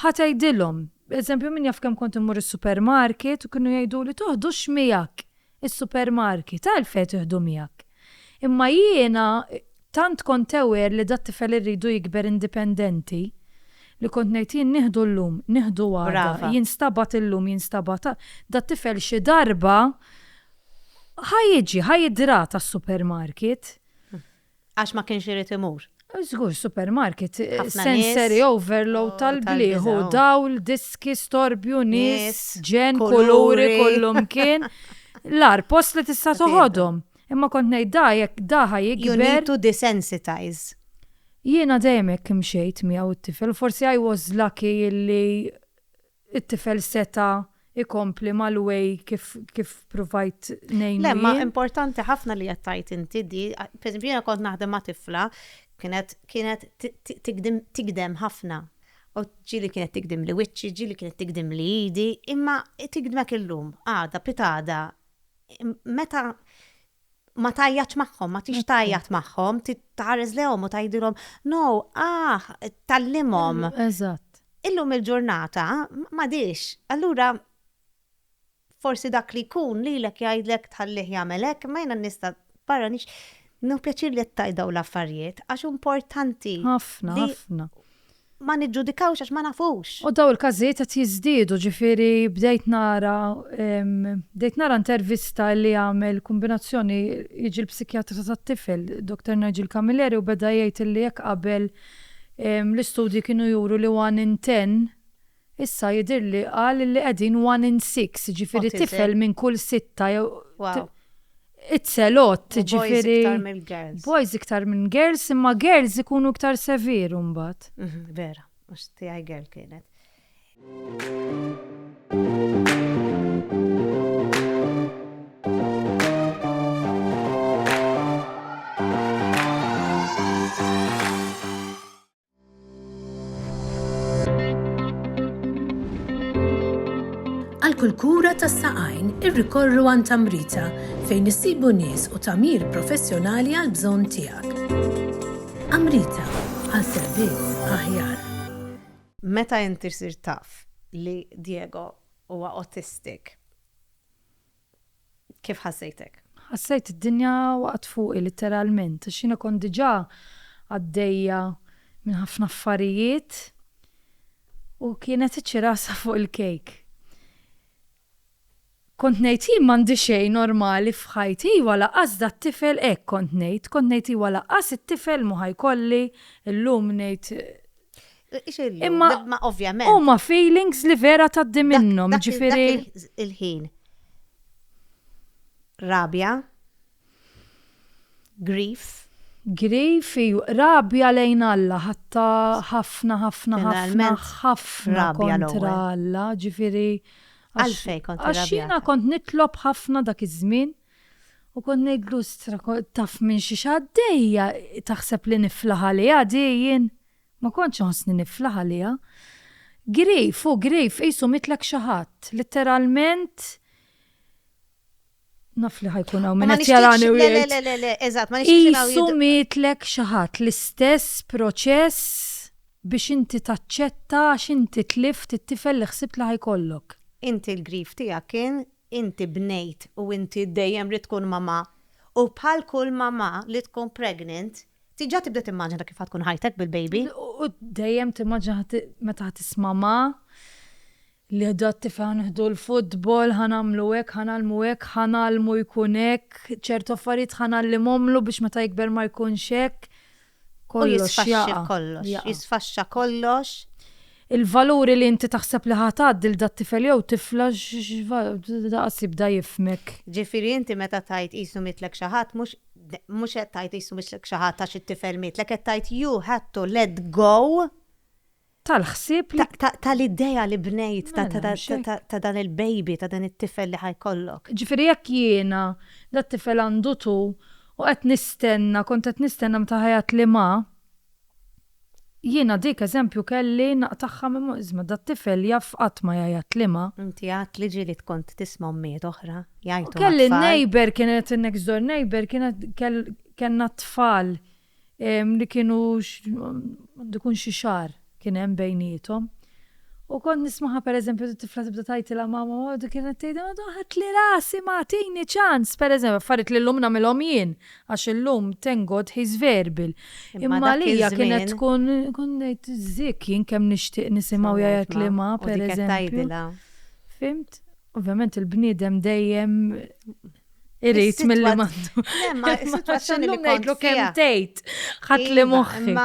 ħatajdilhom. Eżempju, min jaf kemm kont immur is-supermarket u kienu jgħidu li toħdux miegħek Is-supermarket, għalfejn tieħdu miegħek? Imma jiena tant kont aware li dat-tifel irridu jikber indipendenti li kont ngħid jien nieħdu llum, nieħdu għada, jinstabgħat illum, jinstabgħat għada, dat-tifel xi darba ħa jiġi, ħa jidrata s-supermarket. Għax ma kienx irid imur. Żgur, supermarket, sensory overload oh, tal-bliħu, oh. dawl, diski, storbju, nies, ġen, kuluri, kollum kien. L-ar post li tista' toħodhom. Imma kont ngħid da jekk daħa jikber. You need to desensitize. Jiena dejjem hekk imxejt miegħu t-tifel, forsi I was lucky illi it-tifel seta' jkompli mal-way kif kif pruvajt ngħinu. Le, ma importanti ħafna li qed tgħid inti di, pereżempju jiena kont naħdem ma' tifla kienet kienet tigdem ħafna. U ġieli kienet tigdimli wiċċi, ġieli kienet tigdimli idi, imma tigdmek illum, għada, pitada. Meta ma tajjatx magħhom, ma tix tajjat magħhom, titħares lehom u tgħidilhom, no, ah, tallimhom. Eżatt. Illum il-ġurnata ma dix. Allura forsi dak li jkun lilek jgħidlek tħallih jagħmel hekk, ma jiena nista' barra nix No pjaċir li qed tajdaw l-affarijiet għax importanti. Ħafna, ħafna. Ma niġġudikawx għax ma nafux. U dawn il-każijiet qed jiżdiedu, ġifieri bdejt nara bdejt nara intervista li għamel kumbinazzjoni jiġi l-psikjatra tat-tifel, Doktor Nigel Camilleri u beda jgħid li jekk qabel l-istudji kienu juru li one in ten Issa jidhirli qal li qegħdin one in six, jiġifieri tifel minn kull sitta jew it's a lot, jiġifieri boys iktar minn girls imma girls ikunu iktar severe imbagħad. Vera, għax tiegħi girl kienet. Għal kull kura tas-saqajn irrikorru għand Amrita fejn issibu nies u tagħmir professjonali għal bżonn tiegħek. Amrita għal servizz aħjar. Meta inti ssir taf li Diego huwa autistic, Kif ħassejtek? Ħassejt id-dinja waqgħet fuqi litteralment għax jiena kont diġà għaddejja minn ħafna affarijiet u kienet iċ-ċirasa fuq il-kejk. Kont ngħid jien m'għandi xejn normali f'ħajti, iva lanqas dat-tifel hekk kont ngħid, kont ngħid iva lanqas it-tifel mhu ħa jkolli, illum ngħid Imma ovvjament. Huma feelings li vera taddi minnhom, ġifieri. Il-ħin. Rabja. Grief. Grief, rabja lejn Alla, ħatta ħafna, ħafna, ħafna, ħafna kontra Alla, ġifieri. Għalfej kontra Alla. Għax jiena kont nitlob ħafna dak iż-żmien. U kont ngħidlu, Stra, taf minn xiex għaddejja, taħseb li niflaħ għaliha di jien? Ma kontx inħossni niflaħ għaliha. Grif, hu grif, qisu mitlek xi ħadd. Litteralment, naf li ħajkun hawn minn qed jarani u jgħid. Qisu mitlek xi ħadd l-istess proċess biex inti taċċetta għax inti tlift it-tifel li ħsibt li ħajkollok. Inti l-grif tiegħek kien Inti bnejt u inti dejjem ridt tkun mamà u bħal kull mamà li tkun pregnant diġà tibda timmaġina kif ħa tkun ħajtek bil-baby. U dejjem timmaġina meta ħa tisma' mamà li ħdu t-tifel ħa nieħdu l-futbol, ħa nagħmlu hekk, ħa ngħallmu hekk, ħa ngħallmu jkun hekk, ċertu affarijiet ħa ngħallimhomlu biex meta jikber ma jkunx hekk. U jisfaxxi kollox, jisfaxxa kollox. Il-valuri li inti taħseb li ħa tgħaddi lil dat-tifel jew tifla daqas jibda jifhmek. Ġifieri inti meta tgħid qisu mietlek xi ħadd mhux mhux qed tgħid qisu mietlek xi ħadd għax it-tifel mietlek qed tgħid you had to let go tal-ħsieb li. tal-idea li bnejt ta' dan il-baby, ta' dan it-tifel li ħa jkollok. Ġifieri jekk jiena dat-tifel għandu tu u qed nistenna, kont qed nistenna meta ħa jgħidli ma, jiena dik eżempju kelli naqtagħha minn moħħi, isma' dat-tifel jaf qatt ma jgħajatli ma. Inti għedt li ġieli kont tisma' ommijiet oħra jgħajtu. Kelli n-neighbour kienet in-next door neighbour kienet kellna t-tfal li kienu għandu jkun xi xahar kien hemm bejniethom. U kont nismaha pereżempju t-tifla tibda tgħidilha mama u kienet tgħidha madu ħadtli rasi ma tini ċans pereżempju affarijiet li llum nagħmilhom jien għax illum thank God he's verbal. Imma għalija kienet tkun kont ngħid zik jien kemm nixtieq nisimgħu jgħid li ma pereżempju. Fimt? Ovvjament il-bniedem dejjem Irrit mill mandu. Ma situazzjoni li ngħidlu kemm tgħid ħadd li iva, moħħi.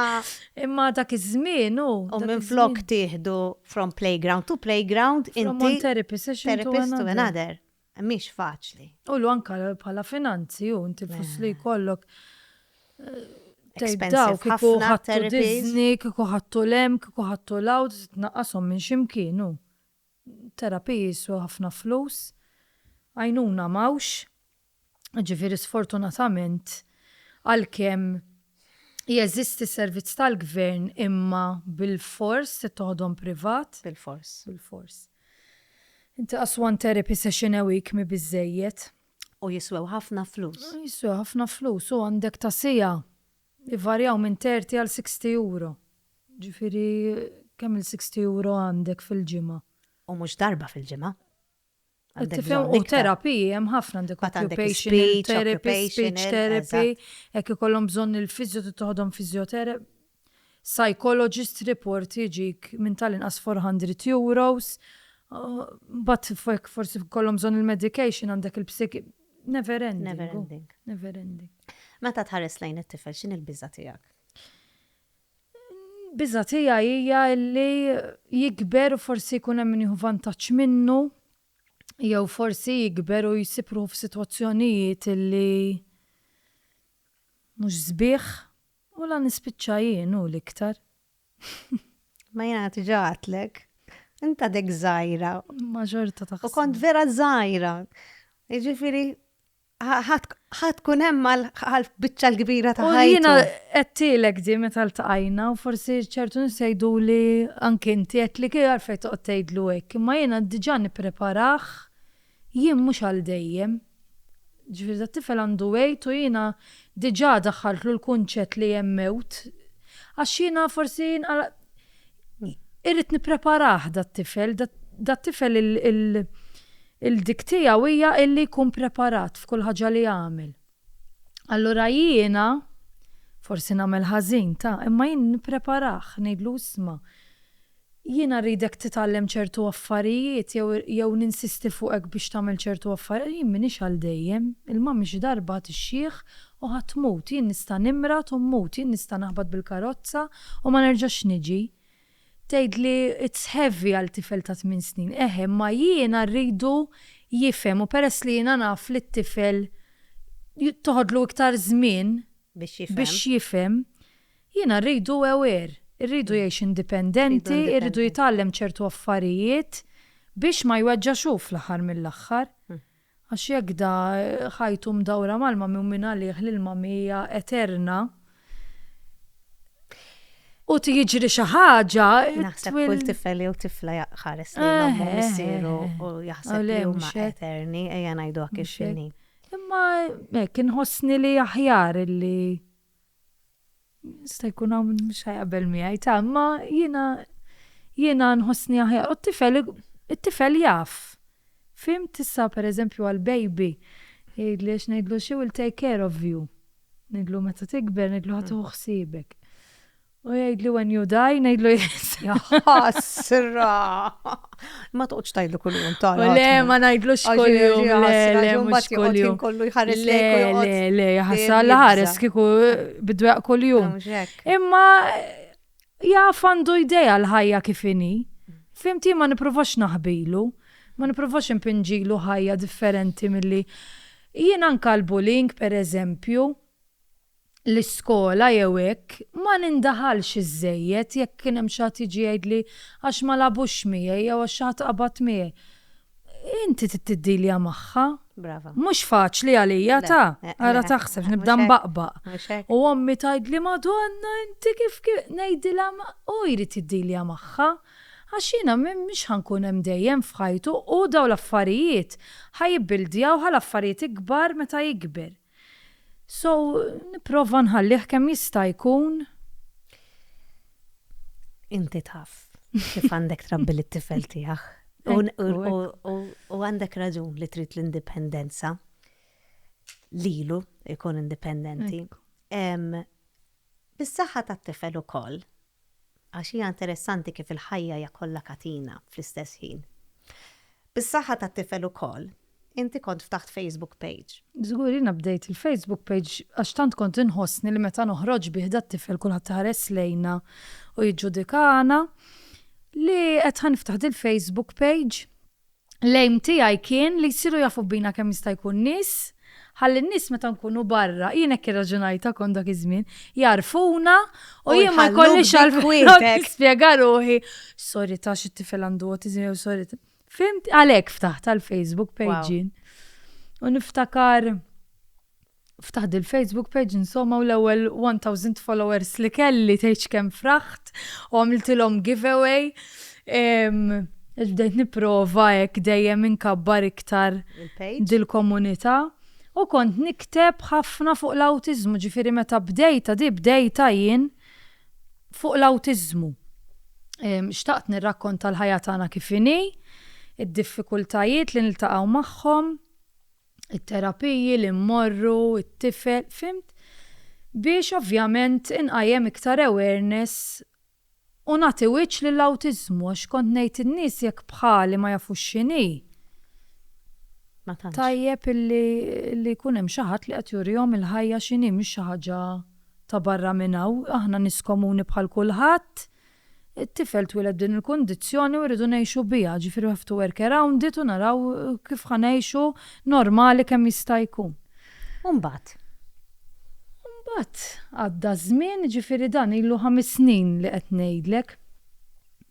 Imma dak iż-żmien u. U minn flok tieħdu from playground to playground inti. Therapy session. Therapist to another. Mhix faċli. U l anka bħala finanzi u inti flus li eh. kollok. Eh, Tejdaw, kiku ħattu dizni, kiku ħattu lem, kiku ħattu lawd, tnaqqasom minn ximkienu. Terapiji jiswew ħafna flus. Għajnuna m'hawnx. Jiġifieri sfortunatament għalkemm jeżisti servizz tal-gvern imma bilfors trid toħodhom privat. Bilfors. Bilfors. Inti qas one therapy session a week mhi biżżejjed. U jiswew ħafna flus. Jiswew ħafna flus u għandek ta' siegħa Ivarjaw minn 30 għal 60 euro. Ġifieri kemm il-60 euro għandek fil-ġimgħa? U mhux darba fil-ġimgħa. Qed tifhem? U terapiji hemm ħafna għandek occupational therapy, speech therapy, jekk ikollhom bżonn il-fisio trid toħodhom physiotherapy. Psychologist report jiġik minn tal-inqas 400 euros. Mbagħad jekk forsi jkollhom bżonn il-medication għandek il-. Never ending. Never oh. ending. Never ending. Meta tħares lejn it-tifel x'in il-biża' tiegħek? Biża' tiegħi hija li jikber u forsi jkun hemm nieħu vantaġġ minnu jew forsi jikber u jsibru f'sitwazzjonijiet li mhux sbieħ U la nispiċċa jien u l-iktar. Imma jiena diġà għedtlek. Int għadek żgħira. Imma xorta taħseb. U kont vera żgħira. Jiġifieri ħa tkun hemm għall-biċċa l-kbira ta' ħajti. Jiena għedtilek di meta ltqajna u forsi ċertu nies jgħiduli anke inti qed li kif għalfejn toqgħod tgħidlu hekk. Imma jiena diġà nippreparah Jien mhux għal dejjem. Ġifieri dat-tifel għandu għid u jiena diġà daħħaltlu l-kunċett li hemm mewt. Għax jiena forsi irrid nippreparah dat-tifel, dat-tifel il-dik tiegħu hija illi jkun preparat f'kull ħaġa li jagħmel. Allura jiena, forsi nagħmel ħażin, ta, imma jien nippreparah, ngħidlu isma', jiena rridek titgħallem ċertu affarijiet jew jew ninsisti fuqek biex tagħmel ċertu affarijiet, jien m'iniex għal dejjem, il-mami xi darba tixjieħ u ħa tmut, jien nista' nimrad u mmut, jien nista' naħbat bil-karozza u ma nerġax niġi. Tgħid li it's heavy għal tifel ta' tmien snin. Eħe, imma jiena rridu jifhem u peress li jiena naf li t-tifel toħodlu iktar żmien biex jifhem, jiena rridu aware, irridu jgħix indipendenti, irridu jitgħallem ċertu affarijiet biex ma jweġġax hu fl-aħħar mill-aħħar. Għax jekk da ħajtu mdawra mal-ma mi u min għalih l-ilma mi hija eterna, u tiġri xi ħaġa. Naħseb kull tifel jew tifla jaqħares lejn ommu missieru u jaħseb li huma eterni ejja ngħidu hekk ix-xinni. Imma hekk inħossni li aħjar li. Jista' jkun hawn min mhux ħajqabel miegħi ta' imma jiena jiena nħossni aħjar u t-tifel it-tifel jaf. Fim tista' pereżempju għal baby jgħidli għax ngħidlu she will take care of you. Ngħidlu meta tikber ngħidlu ħa tieħu ħsiebek. U jgħidli when you die, ngħidlu yes. Jaħasra. Ma toqgħodx tgħidlu kull jum tal. Le, ma ngħidlux kull jum. Le, mhux kull jum. Kollu jħares le, le, le, jaħasra la ħares kieku bidweq kull jum. Imma jaf għandu idea l-ħajja kif inhi. Fimti ma nipprovax naħbilu, ma nipprovax impinġilu ħajja differenti milli jien anka l-bullying per eżempju l-iskola jew hekk, ma nindaħalx iżżejjed jekk kien hemm xi ħadd jiġi jgħidli għax ma lagħbux miegħi jew għax xi ħadd qabad miegħi. Inti trid tiddilja magħha. Brava. Mhux faċli għalija ta! Ara taħsebx, nibda nbaqbaq. U ommi tgħidli Madonna inti kif ngħidilha hu jrid jiddilja magħha. Għax jiena mhix ħa nkun hemm dejjem f'ħajtu u dawn l-affarijiet ħa jibbildjawha l-affarijiet ikbar meta jikber. So nipprova nħallih kemm jista' jkun. Inti taf kif għandek trabbi lit-tifel tiegħek. U għandek raġun li trid l-indipendenza lilu ikun indipendenti. Bis-saħħa tat-tifel ukoll Għax hija interessanti kif il-ħajja hija kollha katina fl-istess ħin. Bis-saħħa tat-tifel ukoll, inti kont ftaħt Facebook page. Żgur, jiena bdejt il-Facebook page għax tant kont inħossni li meta noħroġ bih dat-tifel kulħadd iħares lejna u jiġġudikana li qed ħa niftaħ dil-Facebook page. L-aim tiegħi kien li jsiru jafu bina kemm jista' jkun nies, ħalli n-nies meta nkunu barra, jien hekk irraġunajtha kont dak iż-żmien, jagħrfuna u jien ma jkollix għalfejn nispjega ruħi. Sorry ta' xi tifel għandu autism jew sorry. Fimt għalhekk ftaħt tal-Facebook page. U niftakar Ftaħt dil Facebook page insomma u l-ewwel 1000 followers li kelli tgħid x'kemm fraħt u għamiltilhom giveaway. Għax bdejt nipprova hekk dejjem inkabbar iktar dil-komunità u kont nikteb ħafna fuq l-awtiżmu, ġifieri meta bdejtha di bdejtha jien fuq l-awtiżmu. Xtaqt nirrakkonta l-ħajja tagħna kif inhi, id-diffikultajiet li niltaqgħu magħhom. it-terapiji li mmorru, it-tifel, fimt? Biex ovvjament inqajjem iktar awareness u nagħti wiċċ lill-awtiżmu għax kont ngħid in-nies jekk bħali ma jafux x'inhi, tajjeb illi li jkun hemm xi ħadd li qed jurihom il-ħajja x'inhi mhix xi ħaġa ta' barra minn hawn, aħna nies komuni bħal kulħadd, It-tifel twieled b'din il-kundizzjoni u rridu ngħixu biha, ġifieri we have to work around it u naraw kif ħa ngħixu normali kemm jista' jkun. U mbagħad? U mbagħad għadda ż-żmien, jiġifieri dan ilu ħames snin li qed ngħidlek.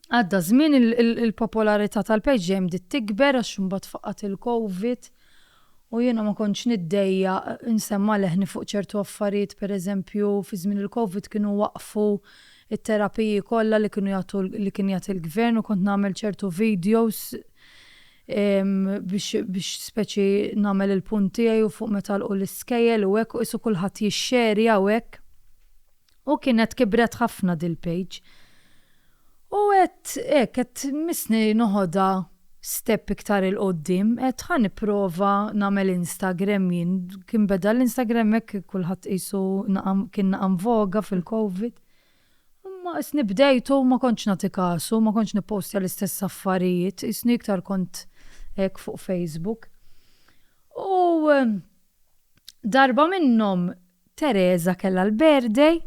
Għadda ż-żmien il-popolarità tal-page dejjem bdiet tikber għax imbagħad faqgħet il-COVID U jiena ma kontx niddejjaq insemma' leħni fuq ċertu affarijiet, per eżempju, fi żmien il-Covid kienu waqqfu t-terapiji kollha li kienu jagħtu li kien jagħti l-Gvern u kont nagħmel ċertu videos biex biex speċi nagħmel il-punt tiegħi u fuq meta għalqu l-iskejjel u hekk u qisu kulħadd jixxerja u hekk. U kienet kibret ħafna dil-page. U għedt hekk, għedt missni noħodha step iktar 'il quddiem, għedt ħa nipprova nagħmel Instagram jien. Kien beda l-Instagram hekk kulħadd qisu naqa' kien naqa' nvoga fil-Covid. Imma qisni bdejt u ma kontx nagħti kasu, ma kontx nippostja l-istess affarijiet, qisni iktar kont hekk fuq Facebook. U darba minnhom Teresa kellha l-birthday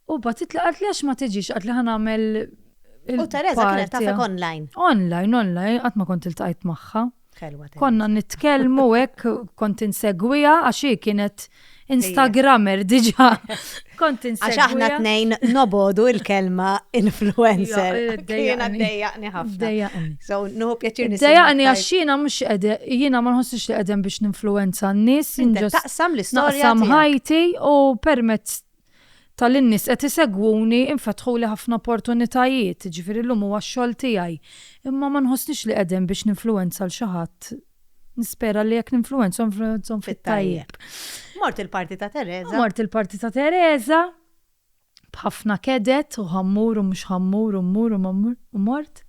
u bagħtitli qaltli għax ma tiġix qaltli ħa nagħmel U Teresa kienet tafek online. Online, online, qatt ma kont iltqajt magħha. Konna nitkellmu hekk kont insegwija għax hi kienet Instagrammer diġa. Kont insegwija. Għax aħna tnejn nobodu il-kelma influencer. Jiena dejjaqni ħafna. Dejjaqni. So, nuhu pjaċir nisma. Dejjaqni għax jiena mhux jiena ma nħossix li qegħdem biex ninfluenza n-nies. Naqsam l-istorja. Naqsam ħajti u permezz tal-innis qed isegwuni infetħuli ħafna opportunitajiet, ġifieri llum huwa x-xogħol tiegħi. Imma ma nħossnix li qegħdin biex ninfluwenza l xi ħadd. Nispera li jekk ninfluwenza nfluwenzhom fit-tajjeb. Mort il-parti ta' Teresa. Mort il-parti ta' Teresa. b'ħafna keded u ħammur u mhux ħammur u mmur u mammur u mort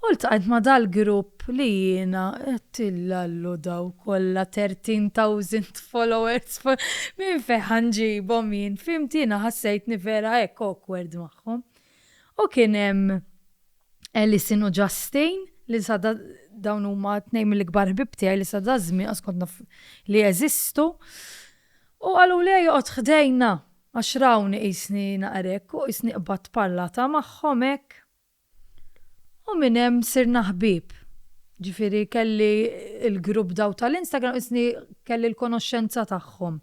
u ltqajt ma' dal-grupp li jiena għedt illallu daw kollha thirteen thousand followers minn fejn ħa nġibhom jien fhimt jiena ħassejtni vera hekk awkward magħhom. U kien hemm Alison u Justin li sa dawn huma tnejn mill-ikbar ħbieb tiegħi li sa daż-żmien qatt kont naf li jeżistu u qaluli ejja oqgħod ħdejna Għax rawni qisni naqgħer hekk u qisni qbadt parlata magħhom hekk. U minn hemm sirna ħbieb. Ġifieri kelli l-grupp daw tal-Instagram qisni kelli l-konoxxenza tagħhom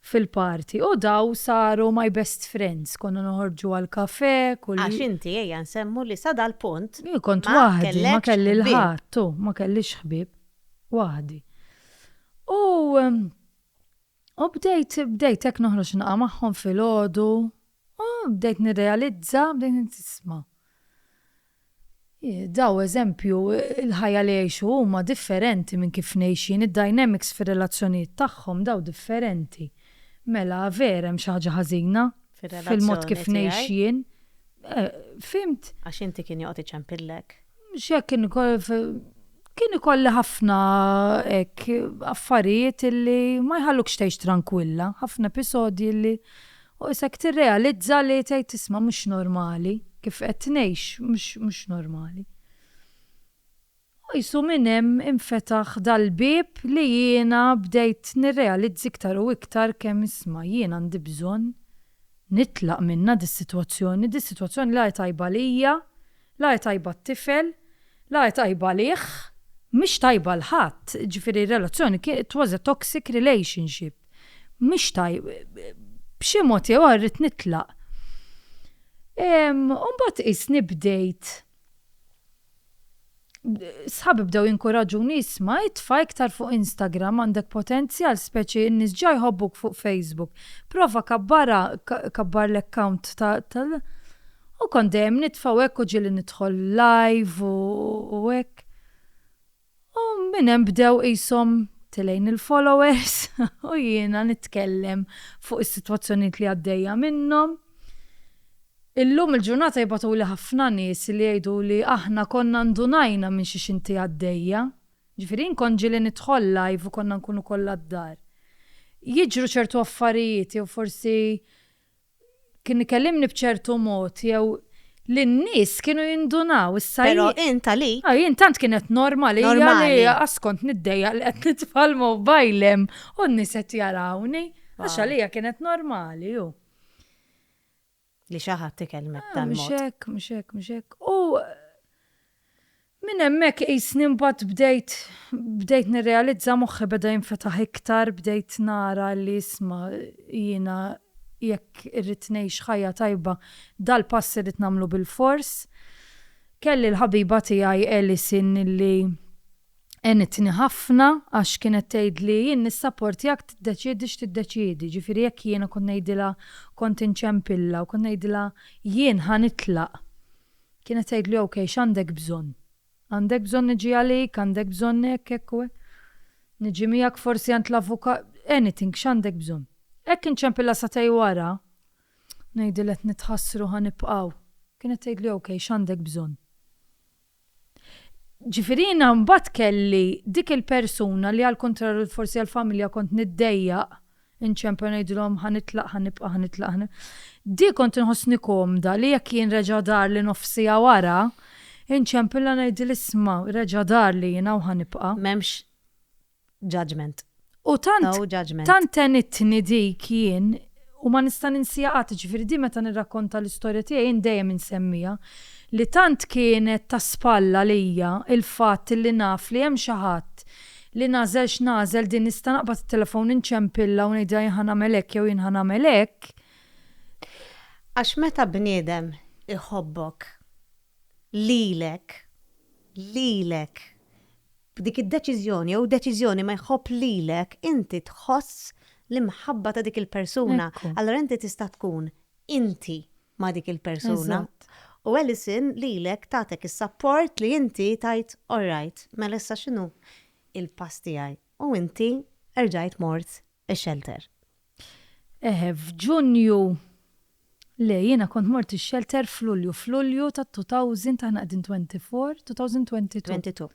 fil-party u daw saru my best friends. Konna noħorġu għall-kafè kull. Għax inti ejja nsemmu li sa dal-punt ma kellekx ħbieb. Jien kont waħdi, ma kelli 'l ħadd, u ma kellix ħbieb. Waħdi. U. U bdejt, bdejt hekk noħroġ naqa' magħhom filgħodu, u bdejt nirrealizza, bdejt ngħid tisma'. Daw eżempju, il-ħajja li jgħixu huma differenti minn kif ngħix jien, id-dynamics fir-relazzjonijiet tagħhom daw differenti. Mela vera hemm xi ħaġa ħażina fil-mod kif ngħix jien. Fir-relazzjoni tiegħi. Fhimt? Għax inti kien joqgħod iċempillek. X'hekk kien ikoll kien ikolli ħafna hekk affarijiet illi ma jħallukx tgħix trankwilla, ħafna episodji li u isek tirrealizza li tgħid isma' mhux normali kif qed ngħix mhux mhux normali. U qisu minn hemm infetaħ dal-bieb li jiena bdejt nirrealizz iktar u iktar kemm isma' jien għandi bżonn nitlaq minnha dis-sitwazzjoni, dis-sitwazzjoni la hi tajba għalija La hi tajba t-tifel, la hi tajba għalih, mhix tajba għal ħadd, ġifieri r-relazzjoni kien, it was a toxic relationship, mhix tajb, b'xi mod jew ieħor irrid nitlaq. U mbagħad qisni bdejt, sħabi bdew jinkuraġuni isma' itfa' iktar fuq Instagram għandek potenzjal speċi n-nies ġa jħobbuk fuq Facebook. Prova kabbarha, kabbar l-account ta' U kont dejjem nitfa' u hekk u ġieli nidħol live u hekk. U minn hemm bdew qishom tilgħin il-followers u jiena nitkellem fuq is-sitwazzjonijiet li għaddejja minnhom. Illum il-ġurnata jibgħatuli ħafna nies li jgħiduli aħna konna ndunajna minn xiex inti għaddejja. Ġifieri jien kont ġieli nidħol live u konna nkunu kollha d-dar. Jiġru ċertu affarijiet jew forsi kien ikellimni b'ċertu mod jew li n-nies kienu jindunaw issa. Però int għalik. Ah, jien tant kienet normali li askont niddejja li qed nitfal mobajlem u n-nies qed jarawni. Għax għalija kienet normali ju. Li xi ħadd ikellmek ah, tal-mod. Mhux hekk, mhux hekk, mhux hekk. U Minn hemmhekk qisni mbagħad bdejt bdejt nirrealizza moħħi beda jinfetaħ iktar bdejt nara li isma' jiena jekk irrid ngħix ħajja tajba dal-pass irrid nagħmlu bilfors. Kelli l-ħabiba tiegħi Alison li għenitni ħafna għax kienet tgħidli jien nissapportjak tiddeċiedi x'tiddeċiedi, jiġifieri jekk jiena kont ngħidilha kont inċempilha u kont ngħidilha jien ħa nitlaq. Kienet tgħidlu ok, x'għandek bżonn? Għandek bżonn niġi għalik, għandek bżonn hekk, hekk u hekk. Niġi miegħek forsi għand l-avukat, anything, x'għandek bżonn? Hekk inċempilha sagħtej wara, ngħidilha qed nitħassru ħa nibqgħu. Kienet tgħidli ok, x'għandek bżonn? Ġifieri jiena mbagħad kelli dik il-persuna li għall-kuntrarju forsi għall-familja kont niddejjaq, Inċempel ngħidilhom ħa nitlaq, ħa nibqa', ħa nitlaq, ħa nibqa'. Di kont inħossni komda li jekk jien reġa' darli nofs siegħa wara, inċempilha ngħidilha isma' reġa' darli jien hawn ħa nibqa'. M'hemmx judgement. U tant, tant għenitni dik jien u ma nista' ninsiha qatt, jiġifieri di meta nirrakkonta l-istorja tiegħi jien dejjem insemmiha, li tant kienet ta' spalla lija l-fatt li naf li hemm xi ħadd Li nagħżel x'nagħżel, din nista' naqbad it-telefon inċempilha u ngħidilha jien ħa nagħmel hekk jew jien ħa nagħmel hekk. Għax meta bniedem iħobbok lilek, lilek, b'dik id-deċiżjoni jew deċiżjoni ma jħobb lilek, inti tħoss l-imħabba ta' dik il-persuna. Allura inti tista' tkun inti ma' dik il-persuna. U Alison lilek tatek is-sapport li inti tgħid all right, mela issa x'inhu l-pass tiegħi? U inti erġajt mort ix-xelter. Eħe, f'Ġunju, le jiena kont mort ix-xelter f'Lulju, f'Lulju ta' 2000, aħna qegħdin 24, 2022. 22,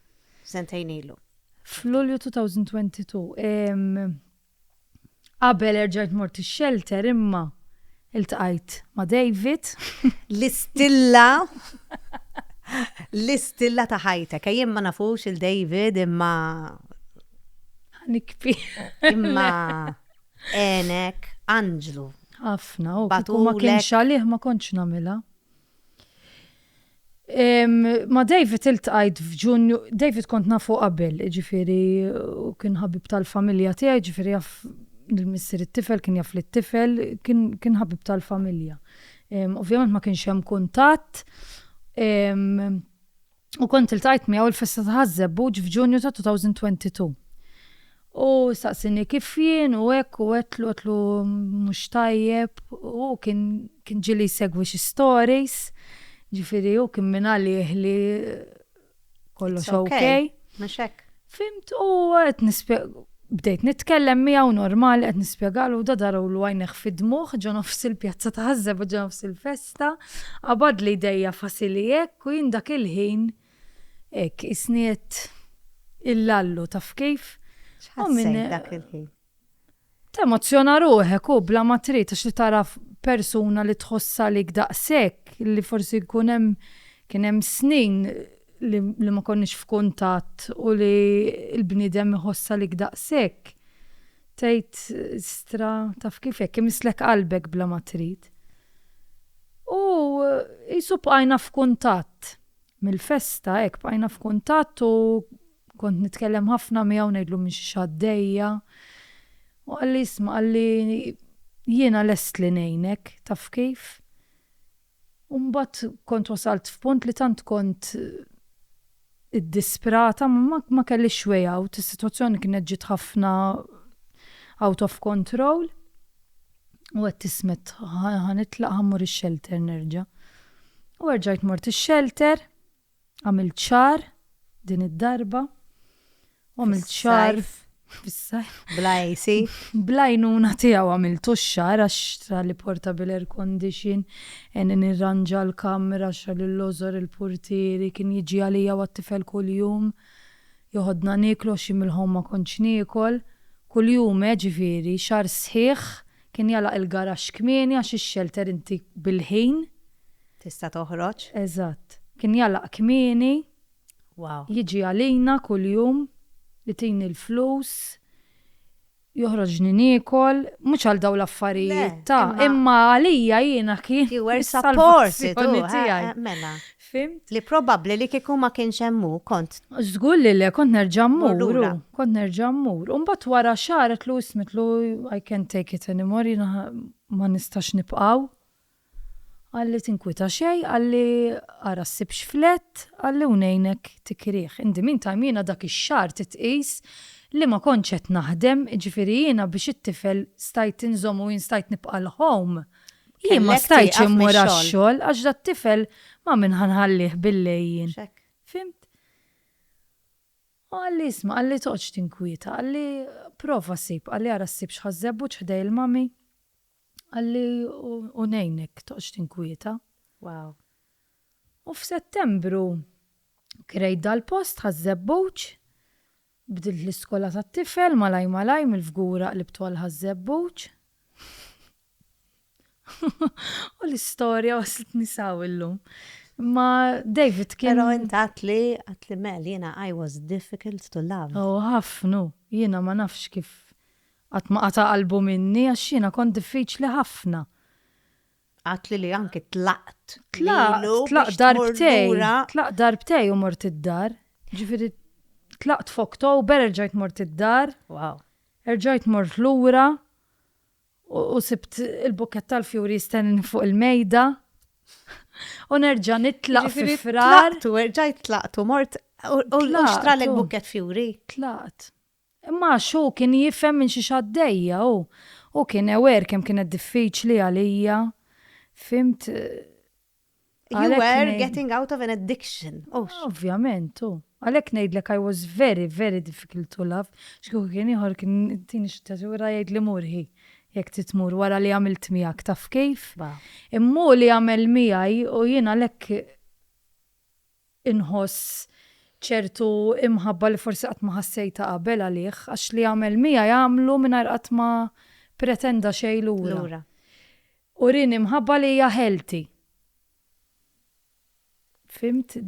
sentejn ilu. F'Lulju 2022. Qabel erġajt mort ix-xelter imma iltqajt ma' David. L-istilla l-istilla ta' ħajtek. Ejjem ma nafux il David imma Ħanikbi. Imma għenek anġlu. Ħafna, u kieku ma kienx għalih ma kontx nagħmilha. Ma' David iltqajt f'Ġunju, David kont nafu qabel, ġifieri u kien ħabib tal-familja tiegħi, ġifieri jaf lill-missier it-tifel, kien jaf lit-tifel, kien ħabib tal-familja. Ovvjament ma kienx hemm kuntatt. U kont iltqajt miegħu l-festa ta' Ħaż-Żebbuġ f'Ġunju ta' 2022. U staqsieni kif jien u hekk u għedtlu għedtlu mhux tajjeb u hu kien kien ġieli jsegwi xi stories, ġifieri hu kien mingħalih li kollox ok. It's ok. Mhux hekk? Fimt u qed nispjeg bdejt nitkellem miegħu normali qed nispjegalu da darulu għajnejh fid-dmugħ ġo nofs il-pjazza ta' Ħaż-Żebgħa ġo nofs il-festa, qabadli jdejja fasili hekk u jien dak il-ħin hekk qisni qed illallu taf kif? X'ħassejt dak il-ħin? Temozzjona ruħek u bla ma trid għax li tara persuna li tħossha għalik daqshekk li forsi jkun hemm kien hemm snin li li ma konniex f'kuntatt u li l-bniedem iħoss għalik daqshekk tgħid istra taf kif jekk imisslek qalbek bla ma trid. U qisu bqajna f'kuntatt. Mill-festa hekk bqajna f'kuntatt u Kont nitkellem ħafna miegħu ngħidlu minn xiex għaddejja u qalli isma' qalli jiena lest li ngħinek, taf kif? U mbagħad kont wasalt f'punt li tant kont iddisprata ma ma kellix way out, is-sitwazzjoni kienet ġiet ħafna out of control u għedt ismet ħa nitlaq ħa mmur ix-shelter nerġa'. U erġajt mort ix-shelter. Għamilt ċar din id-darba. U għamilt ċar fis-sajf. Bla AC. Bla jnuna tiegħu għamilt x-xar għax tra li portable air condition, en nirranġa l-kamra xa l-lożor il-purtieri kien jiġi għalija u għat-tifel kuljum. Joħodna nieklu għax jien mill-ħomm ma kontx niekol. Kuljum eh ġifieri, xahar sħiħ. Kien jagħlaq il-garaxx kmieni għax ix-xelter inti bil-ħin. Tista' toħroġ. Eżatt. Kien jagħlaq kmieni. Wow. Jiġi għalina kuljum, itini l-flus, joħroġni niekol, mhux għal dawn l-affarijiet ta', imma għalija jiena kien. You were supported hu, eh, mela. Fhimt? Li probabbli li kieku ma kienx hemm hu kont. Żgur li le, kont nerġa' mmur, kont nerġa' mmur. U mbagħad wara xahar qedtlu ismitlu I can't take it anymore, jiena ma nistax nibqgħu. Qalli tinkwita xejn, qalli ara ssib x'flett, qalli u ngħinek tikrih. In the meantime jiena dak ix-xahar trid tqis li ma kontx qed naħdem, jiġifieri jiena biex it-tifel stajt inżommu jien stajt nibqa' l-home, jien ma stajtx immur għax-xogħol għax dat-tifel ma' min ħa nħallih bil-lejl jien. Fhimt? U qalli isma' qalli toqgħodx tinkwieta, qalli prova ssib, qalli ara ssib x'ħa żebbuġ ħdej il-mommy. Qalli u ngħinek toqgħodx tinkwieta. Wow. U f'Settembru krejt dal-post Ħaż-Żebbuġ, bdilt l-iskola tat-tifel malaj malaj mill-Fgura qlibtu għal Ħaż-Żebbuġ. U l-istorja waslitni s'hawn illum. Imma David kien. Però int għedtli, għedtli Mel, jiena I was difficult to love. Oh ħafna, jiena ma nafx kif Qatt ma qata' qalbu minni għax jiena kont diffiċli ħafna. Għadtli li anki tlaqt lilu biex tmur lura. Tlaqt, tlaqt darbtejn u mort id-dar. Ġifieri tlaqt f'Oktobru, erġajt mort id-dar. Wow. Erġajt mort lura u sibt il-bukkett tal-fjuri jistennini fuq il-mejda. U nerġa' nitlaq fi Frar. Tlaqt u erġajt tlaqt u mort u xtralek bukkett fjuri. Tlaqt. Imma għax hu kien jifhem minn xiex għaddejja u hu kien aware kemm kienet diffiċli għalija. Fhimt? You were getting out of an addiction, hux? Ovvjament, hu. Għalhekk ngħidlek I was very, very difficult to love. X'kieku kien ieħor kien tini x'tatura jgħidli mur hi, jekk trid tmur wara li għamilt miegħek taf kif? Imma hu li għamel miegħi u jien għalhekk. inħoss ċertu imħabba li forsi qatt ma ħassejtha qabel għalih, għax li għamel miegħi għamlu mingħajr qatt ma pretenda xejn lura. Urieni mħabba li hija healthy. Fhimt?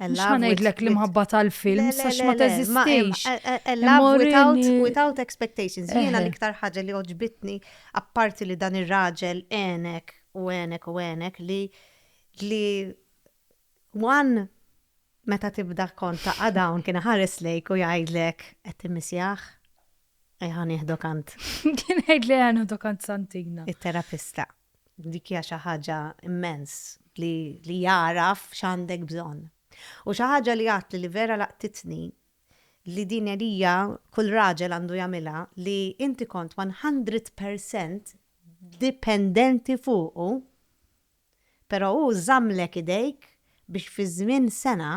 Mhux ħa ngħidlek l-imħabba tal-film, sax ma teżistix. Love without, without expectations. Jiena l-iktar ħaġa li oġbitni, apparti li dan ir-raġel enek u enek u enek li li One, meta tibda kont taqa' dawn kien iħares lejk u jgħidlek qed timmissjah? Ejja nieħdu kant. Kien jgħidli ejja nieħdu kant Santina. It-terapista. Dik hija xi ħaġa immens li li jagħraf x'għandek bżonn. U xi ħaġa li għadtli li vera laqtitni li din għelija kull raġel għandu jagħmilha li inti kont one hundred percent dipendenti fuqu Però hu żammlek idejk biex fi żmien sena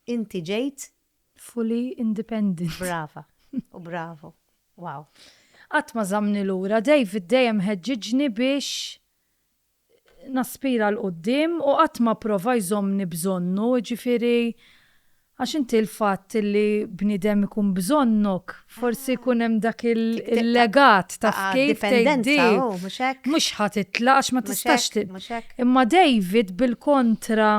inti ġejt. Fully independent. Brava u bravu. Wow. Qatt ma żammni lura, David dejjem ħeġġiġni biex naspira 'l quddiem u qatt ma pprova jżommni b'żonnu, jiġifieri Għax inti l-fatt li bniedem ikun bżonnok, forsi jkun hemm dak il-legat, taf kif, tgħiddi, mhux ħa titlaq għax ma tistax titlaq. Imma David bil-kontra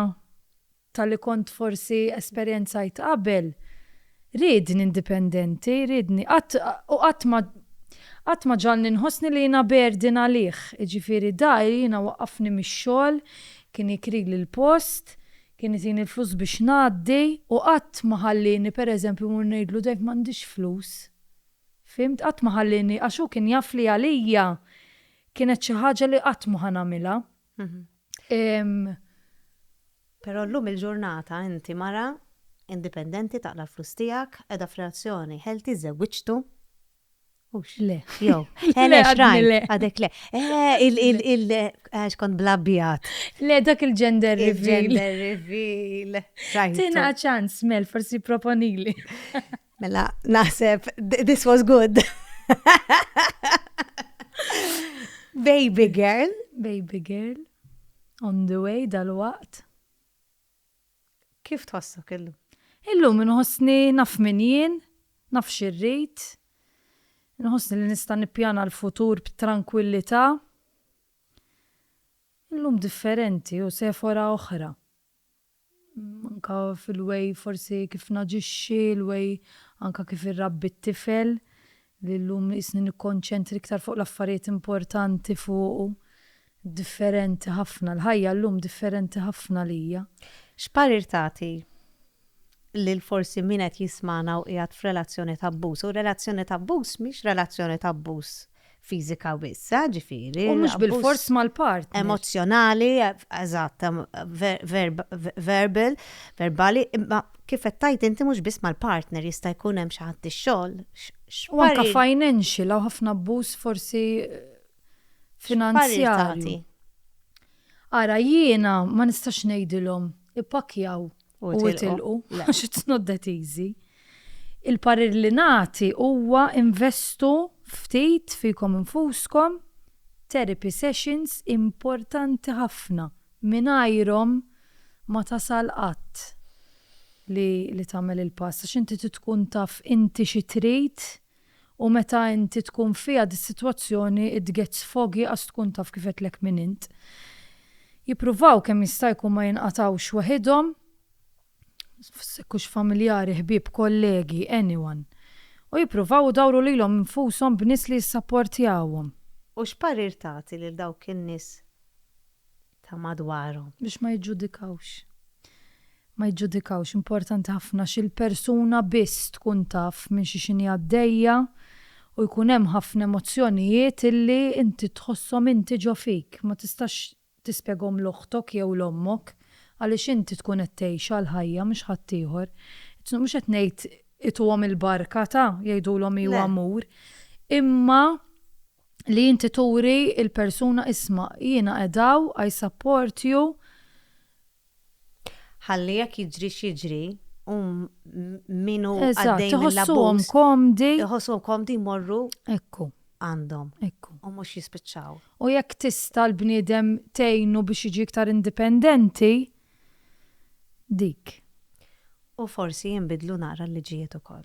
tal-li kont forsi esperjenzajt qabel, riedni indipendenti, riedni, qatt, u qatt ma, qatt ma ġagħalni nħossni li jiena burden għalih. Jiġifieri da jiena waqqafni mix-xogħol, kien jikrili l-post, Kien itini l-flus biex ngħaddi u qatt ma ħallieni pereżempju mmur ngħidlu Dave m'għandix flus. Fhimt? Qatt ma ħallieni għax hu kien jaf li għalija kienet xi ħaġa li qatt mhu ħa nagħmilha. Però llum il-ġurnata inti mara indipendenti taqla' l-flus tiegħek, qiegħda f'relazzjoni healthy, żewwiġtu. Ux le, jow. Le, għadni le. Għadek le. Eh, il-il-il, għax kont blabbijat. Le, dak il-gender reveal. Il-gender reveal. Tina ċans, Mel, forsi proponili. Mela, naħseb, this was good. Baby girl. Baby girl. On the way dal-waqt. Kif tħossok illum? Illum inħossni naf min jien, naf xi rrid, inħossni li nista' nippjana l-futur b'trankwillità. Illum differenti u Sephora oħra. Anke fil-way forsi kif naġixxi, il-way anke kif irrabbi t-tifel. li llum qisni nikkonċentri iktar fuq l-affarijiet importanti fuqu, differenti ħafna, l-ħajja llum differenti ħafna għalija. X'parir tagħti lil forsi min qed jismagħna u qiegħed f'relazzjoni ta' abbuż? U relazzjoni ta' abbuż mhix relazzjoni ta' abbuż fiżika biss, eh, ġifieri. U mhux bilfors mal-partner. Emozzjonali, eżatt, verbal, verbali, imma Kif qed tgħid inti mhux biss mal-partner jista' jkun hemm xi ħadd ix-xogħol, x'parir. U anke financial hawn ħafna abbuż forsi finanzjarju. X'parir tagħti? Ara jiena ma nistax ngħidilhom ippakkjaw u itilqu għax it's not that easy. Il-parir li nagħti huwa investu ftit fikom infuskom, therapy sessions importanti ħafna Mingħajrhom ma tasal qatt li li tagħmel il-pass għax inti trid tkun taf inti xi trid u meta inti tkun fiha dis-sitwazzjoni it gets foggy qas tkun taf kif għedtlek min int. Jippruvaw kemm jista' jkun ma jinqatgħux weħidhom, jekk hux familjari, ħbieb, kollegi, anyone. U jippruvaw idawru lilhom infushom b'nies li jissapportjawhom. U x'parir tagħti lil dawk in-nies ta' madwarhom. Biex ma jiġġudikawx. Ma jiġġudikawx, importanti ħafna għax il-persuna biss tkun taf minn xi x'inhi għaddejja u jkun hemm ħafna emozzjonijiet illi inti tħosshom inti ġo fik, ma tistax tispjegahom 'l oħtok jew 'l ommok għaliex inti tkun qed tgħixha l-ħajja mhux ħaddieħor. Mhux qed ngħid ituhom il-barka ta' jgħidulhom iju amur, imma. li inti turi il-persuna isma' jiena qed hawn i support you. Ħalli jekk jiġri x'jiġri u min hu għaddej mill-abbuż. Eżatt, iħossuhom komdi. Iħossuhom komdi jmorru. Ekku. Għandhom. Ekku. U mhux jispiċċaw. U jekk tista' l-bniedem tgħinu biex jiġi iktar indipendenti, dik. U forsi jinbidlu naqra l-liġijiet ukoll.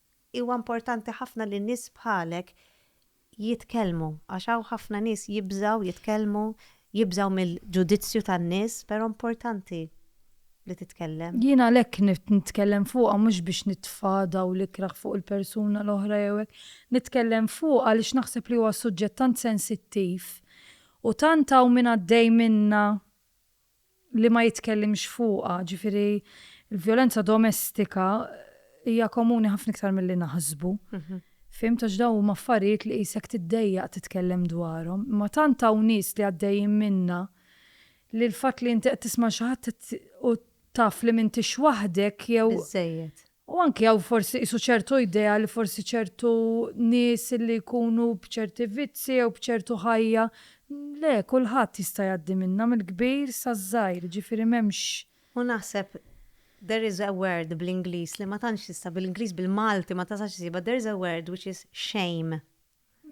Huwa importanti ħafna li nies bħalek jitkellmu għax hawn ħafna nies jibżgħu jitkellmu, jibżgħu mill-ġudizzju tan-nies, però importanti li titkellem. Jien għalhekk nitkellem fuqha mhux biex nitfa' dawl ikrah fuq il-persuna l-oħra jew hekk. Nitkellem fuqha għaliex naħseb li huwa suġġett tant sensittiv u tant hawn min għaddej minnha li ma jitkellimx fuqha, ġifieri l-vjolenza domestika hija komuni ħafna iktar milli naħsbu. Fhimt għax dawn huma affarijiet li qisek tiddejjaq titkellem dwarhom. Imma tant hawn nies li għaddejjin minnha li l-fatt li inti qed tisma' xi ħadd u taf li m'intix waħdek jew U anki hawn forsi qisu ċertu idea li forsi ċertu nies li jkunu b'ċerti vizzi jew b'ċertu ħajja, le, kulħadd jista' jgħaddi minnha mill-kbir saż-żgħir, jiġifieri m'hemmx. U naħseb there is a word bl-Ingliż li ma tantx tista' bil-Ingliż bil-Malti ma tasax issibha, there is a word which is shame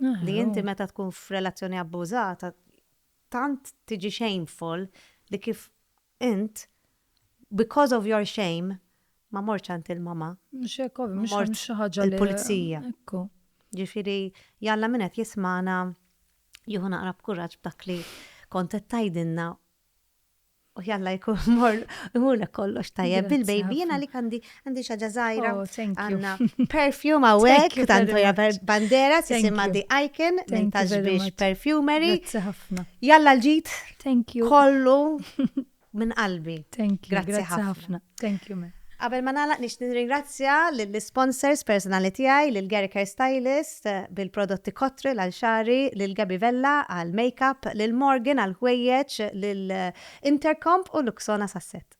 li inti meta tkun f'relazzjoni abbużata tant tiġi shameful li kif Int, because of your shame, ma mortx għand il-mamma. Mhux hekk ovvja, mhux hemm xi ħaġa li. Il-pulizija. Ekku. Ġifieri, jalla min qed jismagħna jieħu naqra b'kuraġġ b'dak li kont qed tgħidilna u jalla jkun mor imurlek kollox tajjeb bil-baby. Jiena għalik għandi Għandi xaġa zaħira. Oh, thank you. Għanna perfume għawek, tanto ja bandera, sisima di icon, nintax biex perfumery. Jalla l-ġit. Thank you. Kollu minn qalbi. Thank you. Grazie ħafna. Thank you, man. Qabel ma nagħlaq nix nirringrazzja lill-sponsors personali tiegħi lil Gerker Stylist eh, bil-prodotti kotri għal xari, lil Gabi Vella għal makeup, lil Morgan għal ħwejjeġ, lil eh, Intercomp u Luxona Sasset.